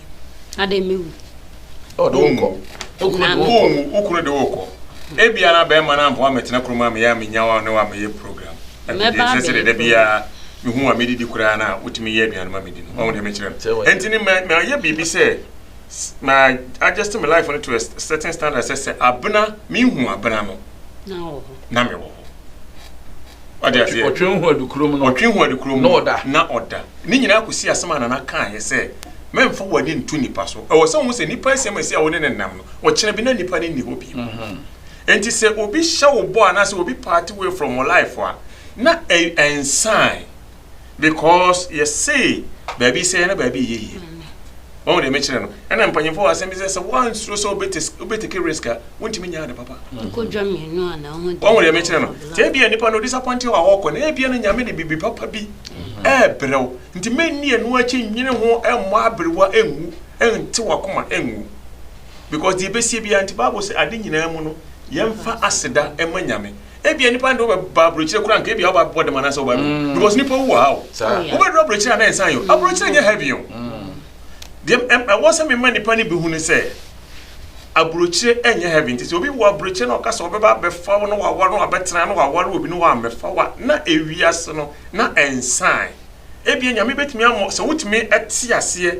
Adɛn mɛwu? Ɔde wo nkɔ. Wokunu de wo nkɔ. Wokunu de wo kɔ. Ebia na bɛrima no amfa wo ammɛtena kurom a meyɛ a menya wo a ne wo amɛyɛ program. Afei deɛ ɛsɛ sɛ dɛda biara mehu wo a medidi koraa no a wotumi yɛ aduane ma medi no. Wahu deɛ mekyerɛ no? Ɛnti no mayɛ biribi sɛ ma adjust me life no to a certain standard sɛ sɛ abena mehu abena no na mewɔ hɔ. Ɔde aseɛ. Ɔtwe ho adu kurom no. Ɔtwe ho adu kurom no. Na ɔda. Na ɔda. Ne nyinaa kɔsi asɛm a Nana kaeɛ sɛ, Mɛmfa w'ani nto nipa so. Ɛwɔ sɛ wohu sɛ nipa asi ama ɛsi a wo ne no nnam no, ɔkyena bi na nipa no nni hɔ bio. Enti sɛ obi hyɛ wo bɔ anaasɛ obi part way from wo life a, na ɛnsan. Because yɛse baabi sɛɛ na baabi yɛ yie. Wɔn deɛ mekyerɛ no ɛna mpanyinfoɔ wɔ asɛm bi sɛ sɛ wɔansuro sɛ wobɛtake risk a wontumi nyɛ ade papa. Wɔn deɛ mekyerɛ no sɛ ebia nipa no disappoint wɔ a wɔkɔ na ebia no nyame de bibi papa bi ɛɛbrɛw nti mɛnni ɛno akyi nwene ho ɛmmɔ aberewa ɛnwu ɛnte wakoma ɛnwu because deɛ ɛbɛsie biara nti Bible sɛ ade nyinaa mu no yɛmfa aseda ɛma nyame Ebia nipa no de ɔba aburokyire kura nka ebia ɔba abɛbɔ dɛm anaasɛ ɔba awu mm. because nipa wu wɔ ha o oh, wobɛduru aburokyire a na nsan yɛ o mm. aburokyire nyɛ heavy o mm. deɛ ɛwɔ sɛ mema nipa no bi hu ne sɛ aburokyire nyɛ heavy nti sɛ obi wɔ aburokyire na ɔka sɛ ɔbɛba abɛfa wo na waware no wabɛtena no waware obi no wammɛfa wa na ewiase no na nsan ebia nyame bɛtumi ama sɛ wotumi te aseɛ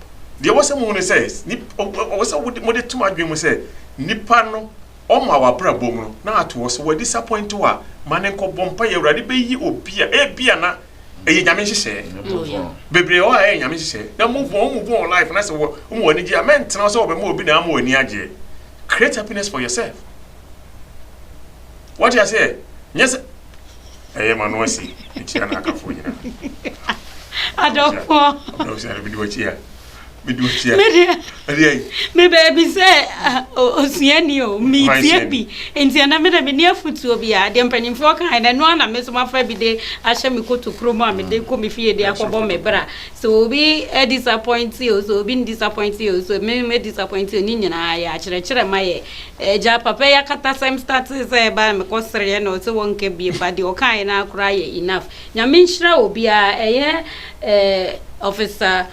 Deɛ ɛwɔ sɛ mohu ne sɛ, ɛwɔ sɛ mode tom adwene mu sɛ, nipa no, ɔma wɔ abrabɔ mu no, na ato hɔ. Sɛ wadisapɔinte wo a, ma no nkɔbɔ mpaeɛ. Awurade bɛyi obi a ebia na ɛyɛ Nyame nhyehyɛɛ. Bebree wɔ hɔ a ɛyɛ Nyame nhyehyɛɛ. Na move on, move on life, na sɛ woma w'ani gye a, mɛntena hɔ sɛ wɔbɛma obi na ama w'ani agyeɛ. Create happiness for yourself. Woate aseɛ? Nyɛ sɛ. ɛyɛ ma no ase mekyia no akafoɔ nyina adɔfoɔ sɛ mede wakyi a mede wakyi a mede ai me baabi sɛ osuani o metie bi nti ɛna mede mene afotuo bi a deɛ mpanimfoɔ kae na ɛno ana me so mafa bi de ahyɛ me kotokuro mu a mede kɔ me fie de akɔbɔ me bra sɛ obi disappoint o sɛ obi disappoint o sɛ me disappoint o ne nyinaa yɛ akyerɛkyerɛ ma yɛ Agya papa yi akatasɛm startee sɛ ɛbaa me kɔ sereɛ na ɔse wɔnka biem but deɛ ɔkaeɛ no ara koraa yɛ enough. Nyame nhyira obiara ɛyɛ eh Officer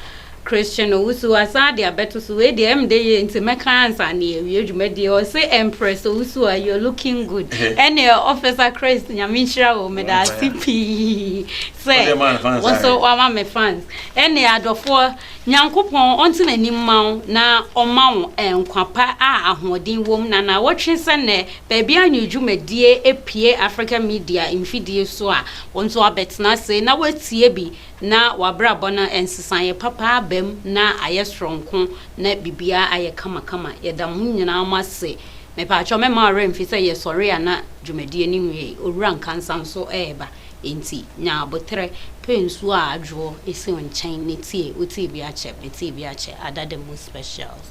Christian Owusu asan de abɛto so wei deɛ ɛmde yɛ nti mɛka ansa na yɛawie dwumadie ɔse Empress Owusu a you're looking good ɛneɛ Officer Christ Nyame nhyira wo meda ase pii sɛ wo nso wama me fans ɛneɛ adɔfoɔ Nyankopɔn ɔnte n'anim mma wo na ɔmma wo nkwa pa a ahoɔden wom na naawɔtwe sɛ nnɛ baabi a new dwumadie apue Africa Media mfidie so a wo nso abɛtena ase na woatie bi na w'abrabɔ no nsesaeɛ papa aba mu na ayɛ soronko na biribiara ayɛ kama kama. Yɛda mo nyinaa mo ase. Mepaakyɛw mɛmma wo werɛ mfi sɛ yɛsɔre a na dwumadie no nwiei. Owura Nkansah nso ɛreba. Enti nya aboterɛ, pɛ nsuo a adwoɔ si wo nkyɛn ne tie wo tii bi akyɛ me tii bi akyɛ ada the most specials.